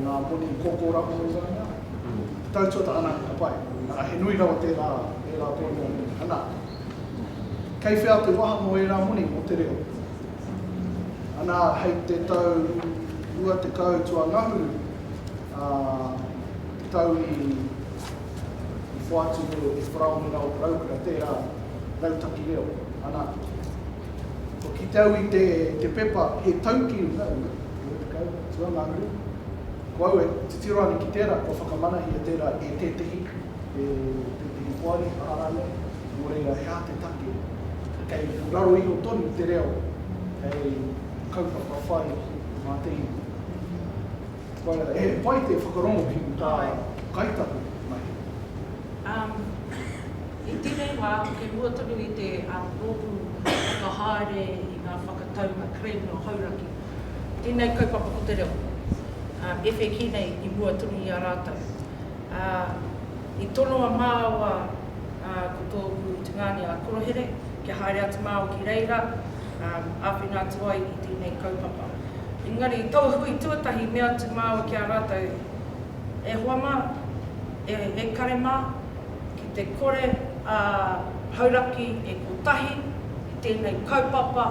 Speaker 6: ngā moni koko rākau i waenga ai. I tāutua tā Anake ka pai, arā, he nui rawa tērā, ērā toenga moni. Anā, kei whea te waha mō ērā moni mō te reo? Anā, hei te tau 20 tuangahuru, ā, te tau i whāiti e Paraone Raoharaukura tērā rautaki reo, anā, Kua kite au i te, te pepa he tauki runga, runga, rua tekau, atua ngā uri. Ko au e titiro ana ki tērā, kua whakamanahia tērā e tētehi, e tētehi poari, aha rānei, nō reira he aha te take. Kei raro iho tonu te reo hei kaupapa whai mā te iwi. Whaia, he pai te whakarongo ki tā Kaitaku mahi. Umm,
Speaker 3: i tēnei wā, ko te mua tonu i te rōpū whakahaere i ngā whakataunga Crane nō Hauraki, tēnei kaupapa ko te reo, ewheki nei i mua tonu i a rātou. Ā, i tono a māua, ā, ko tōku tungāne a Korohere, kia haere atu māua ki reira, ā, āwhina atu ai i tēnei kaupapa. Engari i tō hui tuatahi mea atu māua ki a rātou, E hoa mā, e ekare mā, ki te kore a Hauraki e kotahi i tēnei kaupapa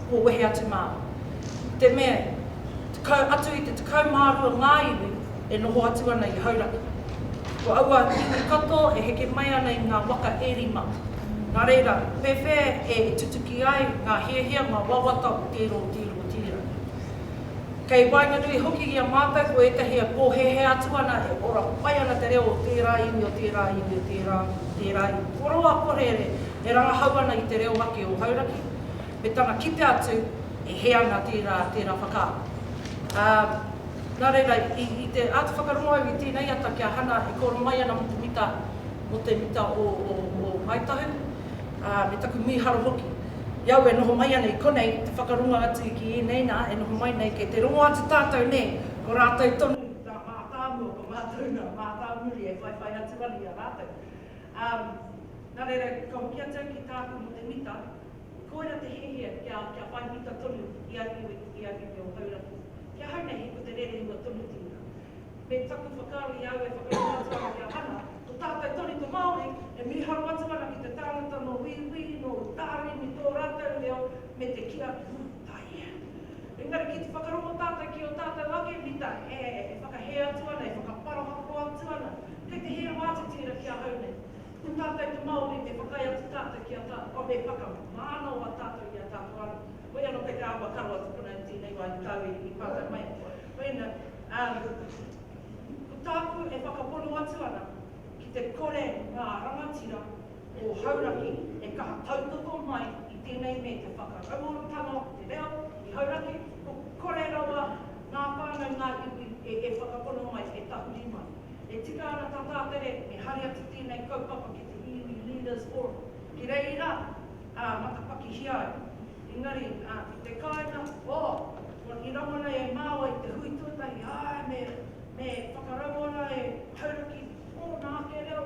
Speaker 3: kua wehe atu māua. I te mea, tekau atu i te tekau mā rua ngā iwi e noho atu ana i Hauraki. Ko aua iwi katoa e heke mai ana i ngā waka e rima. Nā reira, pēwhea e tutuki ai ngā hiahia, ngā wawata o tērā, o tērā? Tira. Kei waenganui hoki i a mātou ko ētahi e pōhēhē atu ana e ora pai ana te reo o tērā iwi, o tērā iwi, o tērā, tērā iwi. Ko roa korere e rangahau ana i te reo ake o Hauraki, me tana kite atu e hē ana tērā, tērā whakaaro. Ā, nā reira, i, i te āta whakarongo au i tēnei ata ki a Hana e kōro mai ana mō te mita, mō te mita o, o, o Ngāi Tahu, ā, me taku mīharo hoki, i au e noho mai ana i konei, te whakarongo atu ki ēnei nā, e noho mai nei, kei te rongo atu tātou nē, ko rātou tonu ngā mātāmua, ko mātou ngā mātāmuri e whaiwhai atu ana i a rātou. Ā, nā reira, ka hoki atu au ki tāku mō te mita, koira te hiahia kia, kia whai mita tonu i a iwi, i a iwi o Hauraki. Ki ahau nei he ko te rere hua tonuti ia. Me taku whakaaro i a au e whakaingoatia ana ki a Hana, ko tātou tonu te Māori e mīharo atu ana ki te tāngata nō Wīwī, nō Utaari, me tō rātou reo me te kī atu, Ū, taea. Engari ki te whakarongo tātou ki ō tātou ake mita e whakahē atu ana, e whakaparohako atu ana, kei te hē rawa atu tērā ki ahau nei. Ko tātou te Māori me whakaae atu tātou ki a tātou, me whakamānawa tātou i a tātou anō. Hoi anō kei te āhua karo atu konei i tēnei wā i te tau i pātai mai. Wena, Um, ko tāku e whakapono atu ana ki te kore ngā rangatira o Hauraki e kaha tautoko mai i tēnei me te whakarauoratanga o te reo i Hauraki, ko kore rawa ngā whānau, ngā iwi e e whakapono mai, e tahuri mai. E tika ana tā Tātere e hari atu tēnei kaupapa ki te Iwi Leaders Forum ki reira, ā, matapakihia ai. Engari, ā, ki te kāinga, ō, kua ki raro nei e māua i te hui tuatahi, āe, me, me whakaraua rā e Hauraki ōna ake reo.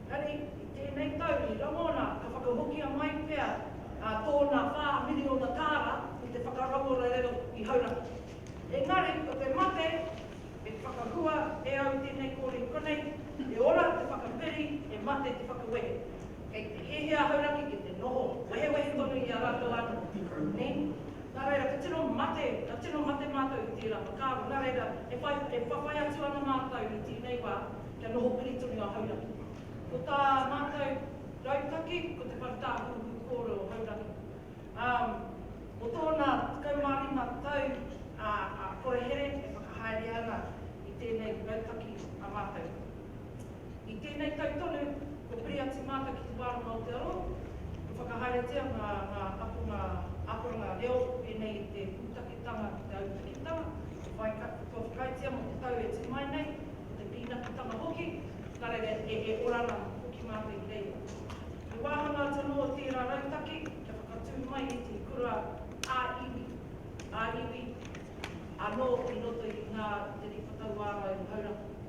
Speaker 3: Engari, i tēnei tau, i raro rā, ka whakahokia mai pea, ā, tōna whā miriona tāra i te whakarauora reo i Hauraki. Engari, ko te mate, e whakahua e au tēnei kōrero, konei, e ora te whakaperi, e mate te whakawehe. Kei te hēhē a Hauraki ki te noho wehewehe tonu i a rātou anō ki te group name, nā reira ka tino mate, ka tino mate mātou i tērā whakaaro, nā reira e whai, e whawhai atu ana mātou i tēnei wā kia noho piri tonu a Hauraki. Ko tā mātou rautaki ko te whare tāhuhu kōrero Hauraki. Ā, mō tōna 15 tau a Korehere e whakahaere ana i tēnei rautaki a mātou. I tēnei tau tonu, kua piri a Tīmāka ki te wā roa o te aro, kua whakahaeretia ngā akonga akoranga reo pēnei i te pūtaketanga ki te autakitanga, kua whakaaetia mō te tau e tū mai nei, mō te pīnakitanga hoki, ka rere e ora ana hoki mātou i reira. He wāhanga atu anō tērā rautaki kia whakatū mai i te kura ā-iwi, ā-iwi anō i roto i ngā riri whakauārai o Hauraki.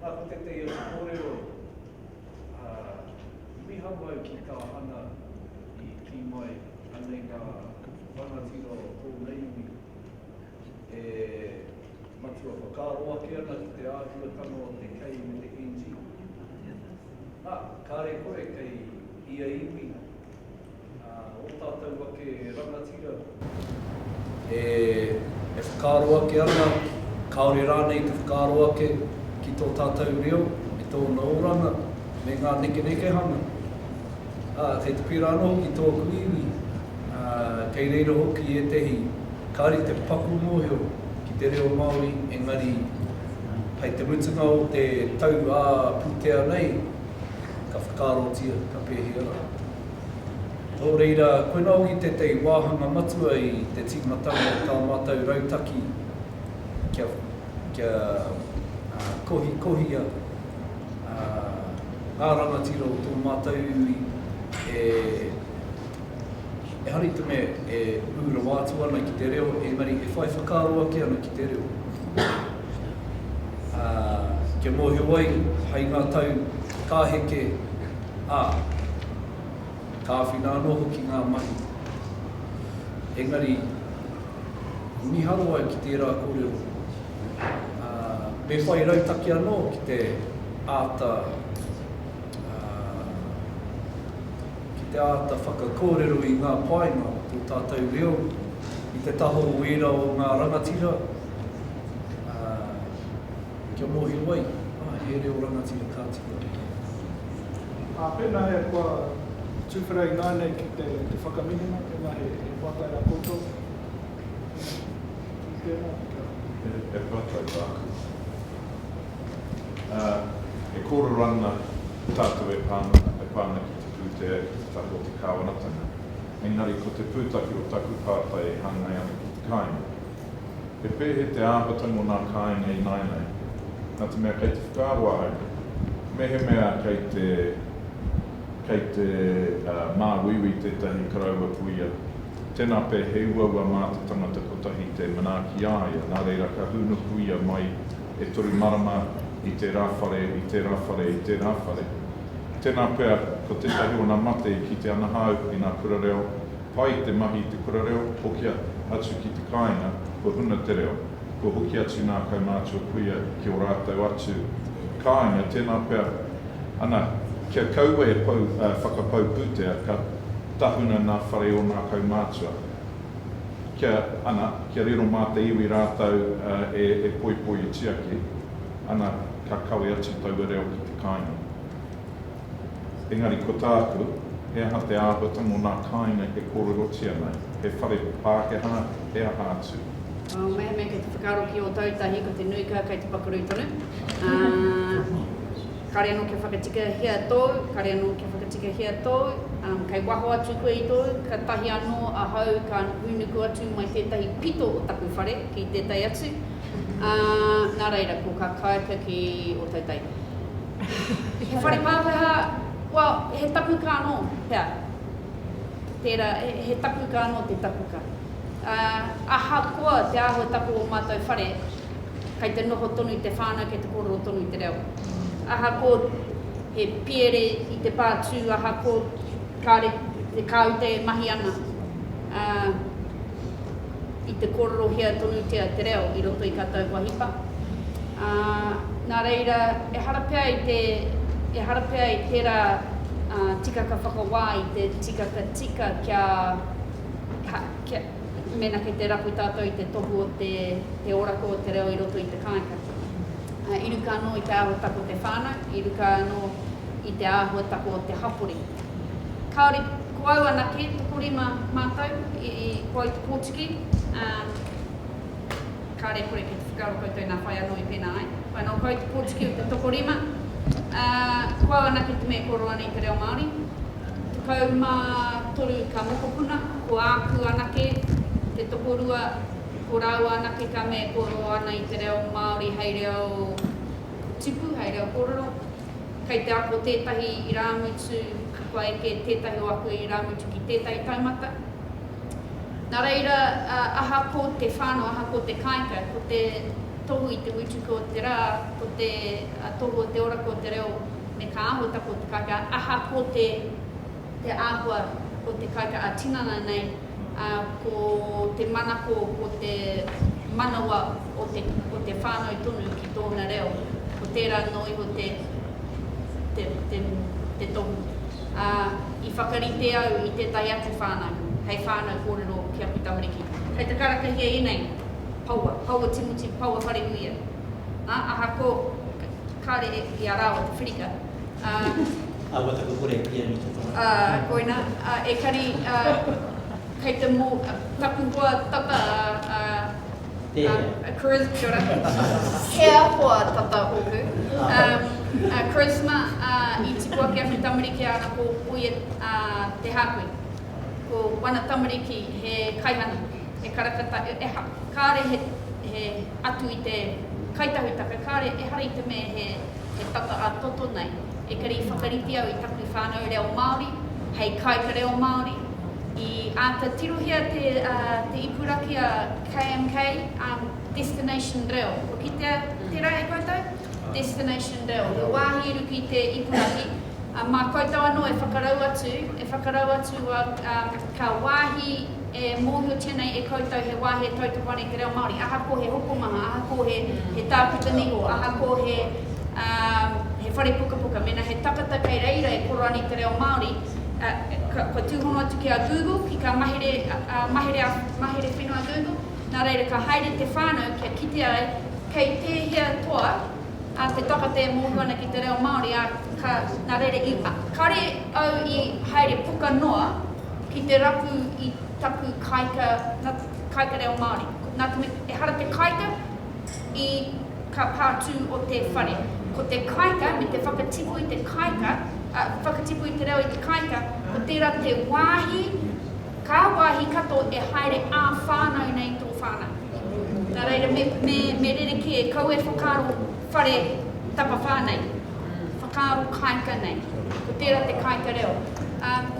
Speaker 4: Nā ko tētahi atu kōrero, ā, i miha mai ki tā Hana i kī mai, anei ngā rangatira o tōna iwi e matua whakaaro ake ana ki te āhuatanga o te kei me te NG. Ā, kāre koe kei ia iwi. Ō tātou ake rangatira. E whakaaro ake ana, kāore rānei te whakaaro ake ki tō tātou reo me tōna oranga, me ngā nekenekehanga. Ā, kei te pērā anō hoki tōku iwi, ā, kei reira hoki ētehi kāri te paku mōhio ki te reo Māori, engari hei te mutunga o te tau ā-pūtea nei, ka whakaarotia, ka pēhia rā. Nō reira, koinā hoki tētahi wāhanga matua i te tīmatanga o tā mātou rautaki kia, kia kohikohia ngā rangatira o tō mātou iwi e, ehara i te mea e ū rawa atu ana ki te reo, engari e whai whakaaro ake ana ki te reo. Kia mōhio ai, hai ngā tau ka heke, ā, ka āwhina anō hoki ngā mahi. Engari, i miharo ai ki tērā kōrero, ā, me whai rautaki anō ki te āta, ā, ki te āta whakakōrero i ngā painga o tō tātou reo i te taha o ērā o ngā rangatira, ā, Kia mōhio ai, ā, he reo rangatira ka tika hoki.
Speaker 6: Ā, pēnā he kua tuwhera ināianei ki te whakamihinga, pēnā he pātai rā koutou, i tēnā,
Speaker 8: kia. He pātai tāku. Ā, e kōrero ana tātou e pā ana, e pā ana ki te pūtea, ki te taha o te kāwanatanga. Engari ko te pūtake o taku pātai e hāngai ana ki te kāinga. He pēhea te āhuatanga o ngā kāinga ināianei? Nā te mea kei te whakaaro ahau nei, mehemea kei te, kei te māuiui tētahi karaua puia, tēnā pea he uaua mā te tangata kotahi te manaaki i a ia, nā reira ka hūnuku ia mai e toru marama i tērā whare, i tērā whare, i tērā whare. Tēnā pea, ko tētahi o ngā mate i kite ana hāu i ngā kura reo, Pai te mahi i te kura reo, hokia atu ki te kāinga, kua huna te reo. Kua hoki atu nā kaumātua kuia ki ō rātou atu kāinga, tēnā pea ana kia kaua e pau, whakapau pūtea, ka tahuna nā whare o nā kaumātua, kia, ana, kia riro mā te iwi rātou e poipoitia ki, ana, ka kawe atu taua reo ki te kāinga. Engari ko tāku, he aha te āhuatanga o nā kāinga e kōrerotia nei, he whare Pākehā, he aha atu? Oh, mehemea kei
Speaker 2: te whakaaro ki Ōtautahi, ko te nui ka kei te pakurui tonu. Uh, kare anō kia whakatikahia tōu, kare anō kia whakatikahia tōu, um, kei waho atu koe i tōu, ka tahi anō ahau ka nukunuku atu mai tētahi pito o taku whare ki tētahi atu. Uh, nā reira, ko ka kāika ki Ōtautahi. He whare Pākehā, well, he tapuka anō, hea? Tērā, he tapuka anō te tapuka. Ahakoa te āhua tapu o ō mātou whare, kei te noho tonu i te whānau, kei te kōrero tonu i te reo. Ahakoa he piere i te pā tū, ahakoa kāore he kāute e mahi ana, i te kōrerohia tonutia te reo i roto i kā tāu wahipa. Ā, nā reira, ehara pea i te, ehara pea i tērā ā, tikaka whakawā, i te tikaka tika kia, ha, kia, mēnā kei te rapu tātou i te tohu o te, te orako o te reo i roto i te kāinga. Ā, i ruka anō i te āhuatako o te whānau, i ruka anō i te āhuatako o te hapori. Kāore. Ko au anake, tokorima mātou i kua i te pōtiki, ā, kāre kore ki te whakaaro koutou nā whai anō i pēnā ai, whai anō kua i te pōtiki o te tokorima, ā, ko au anake te mea kua roa nei te reo Māori. Tekau mā toru ka mokopuna, ko āku anake te tokorua, ko rāua anake ka mea kua roa ana i te reo Māori hei reo tipu, hei reo kōrero, Kei te ako tētahi irāmutu, kua eke tētahi o aku irāmutu ki tētahi taumata. Nā reira, aha ko te whānau, aha ko te kāika, ko te tohu i te mutuku o te rā, ko te tohu o te ora, ko te reo, me ka āhuatanga o te kāika, aha ko te āhua o te kāika ā-tinana nei, ā, ko te manako, ko te manawa o te, o te whānau tonu ki tōna reo, ko tērā anō iho te, te, te, te tohu. Ā, i whakarite au i tētahi atu whānau, hei whānau kōrero ki aku tamariki. Kei te karakahia ēnei paua, paua timoti, paua wharenuia, ā, ahakoa kāre i a rāua te whirika. Ā,
Speaker 7: kua taku kore ki ēnei te whakatau. Ā, koina, ā,
Speaker 2: ekari, ā, kei te mō, ā, taku hoa tata, ā, ā, ā, Charis, kia ora, he ahoa tata ōku, ā, ā, Charisma, ā, i tipu ake aku tamariki āna ko, ko ia, ā, te hākui. Ko wana tamariki he kaihana, he karakata, e, eha, kāre he, he, atu i te Kai Tahutaka, kāre, ehara i te mea he He whakaatoto nei, ekari i whakarite au i taku whānau reo Māori hei kāika reo Māori. I āta tirohia te ipurakī a KMK, Destination Reo. Kua kitea tērā e koutou? Destination Reo. He wāhi i ruku i te ipurakī. Mā koutou anō e whakarau atu, e whakarau atu Ka wāhi e mōhiotia nei e koutou he wāhi e tautoko ana i te reo Māori, ahakoa he hokomaha, ahakoa he he tākuta niho, ahakoa he he whare pukapuka, mēnā he takata kei reira e koro ana i te reo Māori, ka kua tūhono atu ki a Google, ki kā mahere mahere mahere whenua Google, nā reira ka haere te whānau kia kite ai kei tēhea toa A te takate e mohu ana ki te reo Māori, a ka, na reira i, a, kare au i haere puka noa ki te rapu i taku kaika, na, kaika reo Māori. Ko, na, tena, ehara te kaika i ka pātū o te whare. Ko te kaika me te whakatipu i te kaika, a, whakatipu i te reo i te kaika, ko tērā te wāhi Kā wāhi katoa e haere ā-whānau nei tō whānau. Nā reira, me rerekē, kau e whakaaro whare tapawhā nei, whakaaro kāika nei, ko tērā te kāika reo.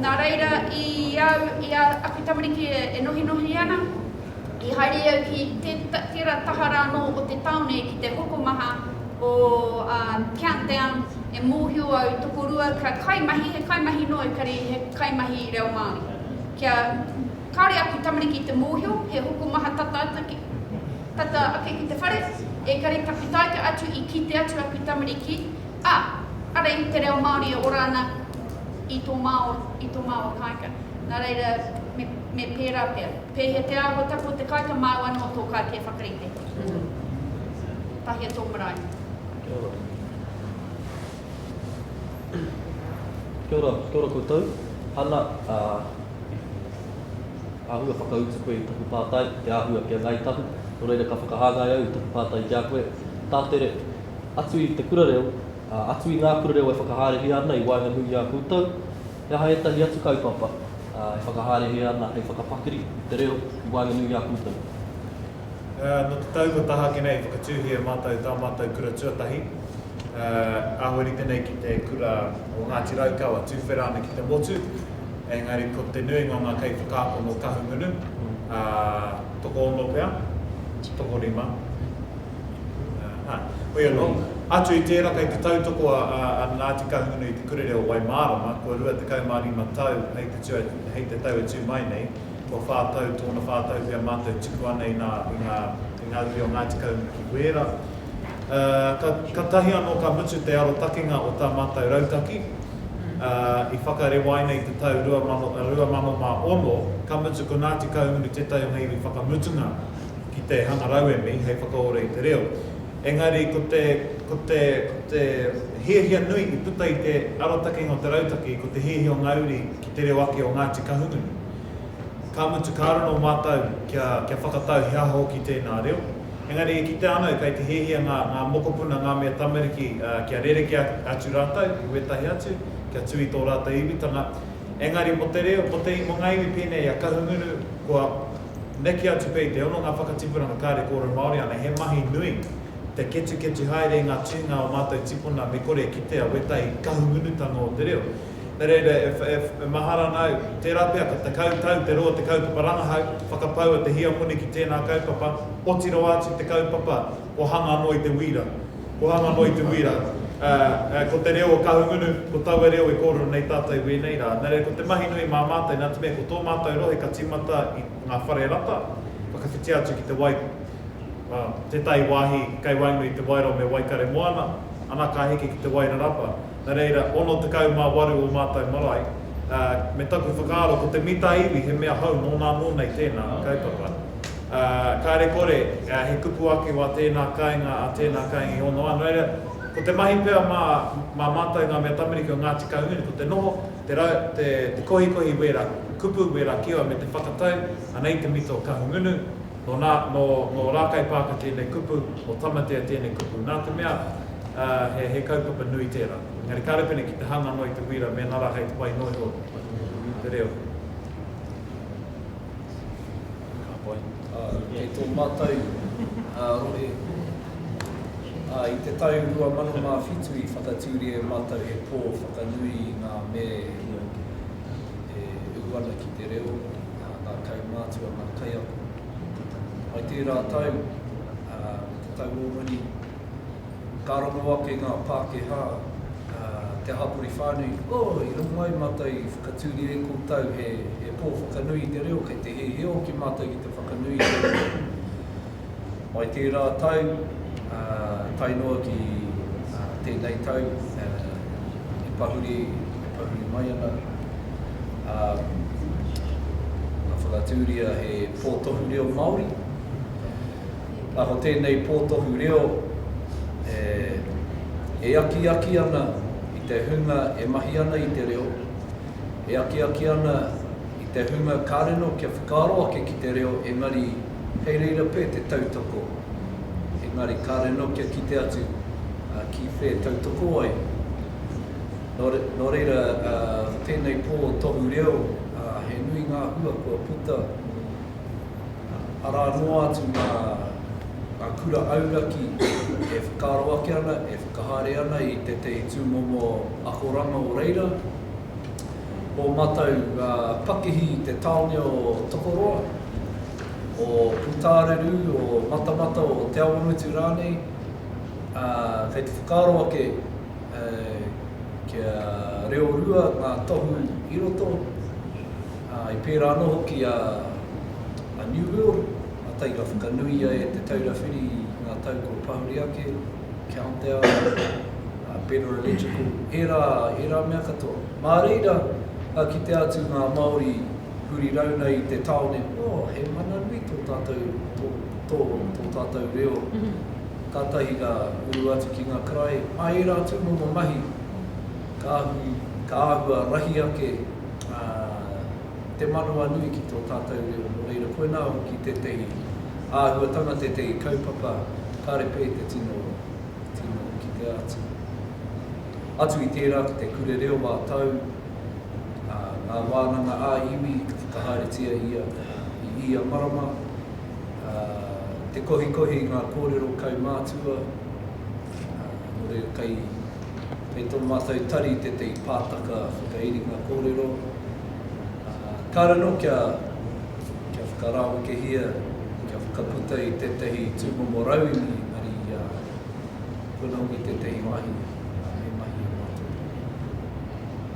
Speaker 2: Nā reira, i au, i a aku tamariki e nohinohi ana, i haere au ki tērā taha rānō o te tāone ki te hokomaha o Countdown, e mōhio au i tokorua ka kaimahi, he kaimahi noa ekari he kaimahi reo Māori. Kia kāre aku tamariki i te mōhio he hokomaha tata atu ki, tata ake ki te whare, ekari taku taika atu i kite atu aku tamariki, a, ara i te reo Māori e ora ana i tō māua, i tō māua kāika. Nā reira, me, me pērā pea. Pēhea te āhua taku o te kāika māu anō tō kāti e whakarite. Tahia tō marae. Kia ora.
Speaker 9: Kia ora, kia ora koutou. Hana, ā, āhua whakautu koe i taku pātai, te āhua ki a Ngāi Tahu, nō reira ka whakahāngai au i taku pātai ki a koe. Tātere, atu i te kura reo, ā, atu i ngā kura reo e whakahaerehia ana i waenganui i a koutou, he aha ētahi atu kaupapa, ā, e whakahaerehia ana hei whakapakiri i te reo i waenganui i a koutou?
Speaker 1: Nō te tau kua taha ake nei, i whakatūhia e mātou tā mātou kura tuatahi, āwherite nei ki te kura o Ngāti Raukawa, tuwhera ana ki te motu, engari ko te nuinga o ngā kaiwhakaako nō Kahungunu, tokoono pea, tokorima, hoi anō, atu i tērā kei te tautoko a Ngāti Kahungunu i te kurere o Waimārama, kua 25 tau hei te tau e tū mai nei, Kua whā tau tōna whā tau pea mātou tuku ana i ngā, i ngā, i ngā uri o Ngāti Kaunga ki Wēra. Ā, ka, ka tahi anō ka mutu te arotakenga o tā mātou rautaki, ā, i whakarewaina i te tau 2000, 2006, ka mutu ko Ngāti Kahungunu tētahi o ngā iwi whakamutunga ki te hanga rauemi hei whakaora i te reo. Engari ko te, ko te, ko te hiahia nui i puta i te arotakenga o te rautaki, ko te hiahia o ngā uri, te reo ake o Ngāti Kahungunu. Ka mutu, ka raro mātou kia, kia whakatau he aha hoki tēnā reo. Engari e kitea ana kei te hiahia ngā, ngā mokopuna, ngā mea tamariki uh, kia rerekē atu rātou ki wētahi atu, kia tū i tō rātou iwitanga. Engari mō te reo, mō te i, mō ngā iwi pēnei a Kahungunu, kua neke atu pea i te hononga whakatipuranga kāre kōrero Māori ana, he mahi nui te ketuketu haere i ngā tuhinga o mātou tipuna me kore e kitea wētahi Kahungunutanga o te reo. Nā reira, e, e, e mahara ana au, tērā pea ka tekau tau te roa te kaupapa rangahau, whakapau a Te Hiamoni ki tēnā kaupapa, oti rawa atu te kaupapa, kua hanga noa i te wīra. Kua hanga noa i te wīra. Ā, ā, ko te reo o Kahungunu, ko taua reo i kōrero nei tātou i wēnei rā. Nā reira, ko te mahi nui mā mātou, nā te mea ko tō mātou rohe ka tīmata i ngā whare rata, whakawhitia atu ki te wai, ā, tētahi wāhi kei waenga i Te Wairoa me Waikaremoana, ana ka heke ki Te Wairarapa. Nā reira, 68 o mātou marae, ā, me taku whakaaro ko te mita iwi he mea hou nōnā nō nei tēnā kaupapa. Ā, kāre kore, ā, he kupu ake wā tēnā kāinga, ā, tēnā kāinga i honoa, nō reira, ko te mahi pea mā, mā mātou ngā mea tamariki o Ngāti Kahungunu ko te noho, te rau, te, te kohikohi wērā kupu, wērā kiwa me te whakatau, anei te mita o Kahungunu, Nō nā, nō, nō Rākaipaaka tēnei kupu, nō Tamatea tēnei kupu, nā te mea, ā, he, he kaupapa nui tērā. Engari kāore pēnei ki te hanga noa i te wīra mēnā rā hei te whai noa iho i te reo. Ka pai. Ā, kei
Speaker 4: tō mātou, ā, rohe, ā, i te tau 2007 i whakatūria e mātou he pō whakanui i ngā me, e uhu ana ki te reo a kaumātua, ngā kaiako o te tau. I tērā tau, te tau o muri, ka rongo ake ngā Pākehā, te hapori whānui, oh, i rongo mai mātou i whakatūria e koutou he pō whakanui i te reo, kei te hēhē hoki mātou ki te whakanui i te reo. Mai tērā tau, tae noa ki tēnei tau, e pahuri mai ana, ka whakatūria he pōtohu reo Māori. Ka ko tēnei pōtohu reo e akiaki ana i te hunga e mahi ana i te reo, e akiaki ana i te hunga ka rino kia whakaaro ake ki te reo engari, Kei reira pē te tautoko, engari kāre anō kia kite atu ki whē tautoko ai. Nō reira, ko tēnei pō tohu reo, he nui ngā hua kua puta, arā noa atu ngā kura auraki e whakaaro ake ana, e whakahaere ana i tētahi tūmomo akoranga o reira. o matou nga pakihi i te taone o Tokoroa, o Putaareru, o Matamata, o Te Awamutu ranei, a, kei te whakaaro ake kia reo rua nga tohu i roto, a, i pera ano hoki a New World, a Tairawhakanuia e Te Taura Whiri i nga tau kua pahuri ake. Countdown, a Pedro Electrical, ērā, ērā mea katoa. Mā reira ka kitea atu ngā Māori huri rau nei i te tāone, oh, he mana nui tō tātou, tō, tō, tō tātou reo. Kātahi ka uru atu ki ngā karaehe. Mā ērā atu momo mahi ka ahu, ka āhua rahi ake, ā, te manawanui ki tō tātou reo, nō reira koinā hoki tētehi āhuatanga, tētehi kaupapa kāre pē te tino, tino kitea atu. Atu i tērā ko te Kure Reo ā Tau, ā, ngā wānanga ā iwi i whakahaeretia ia i ia marama, ā, te kohikohi i ngā kōrero kaumātua, Nō reira, kei tō mātou tari tētahi pātaka whakairinga kōrero, kāore anō kia whakarāwekehia, kia whakaputa i tētahi tūmomo rauemi engari kua nau i tētahi wāhi e mahi ana mātou.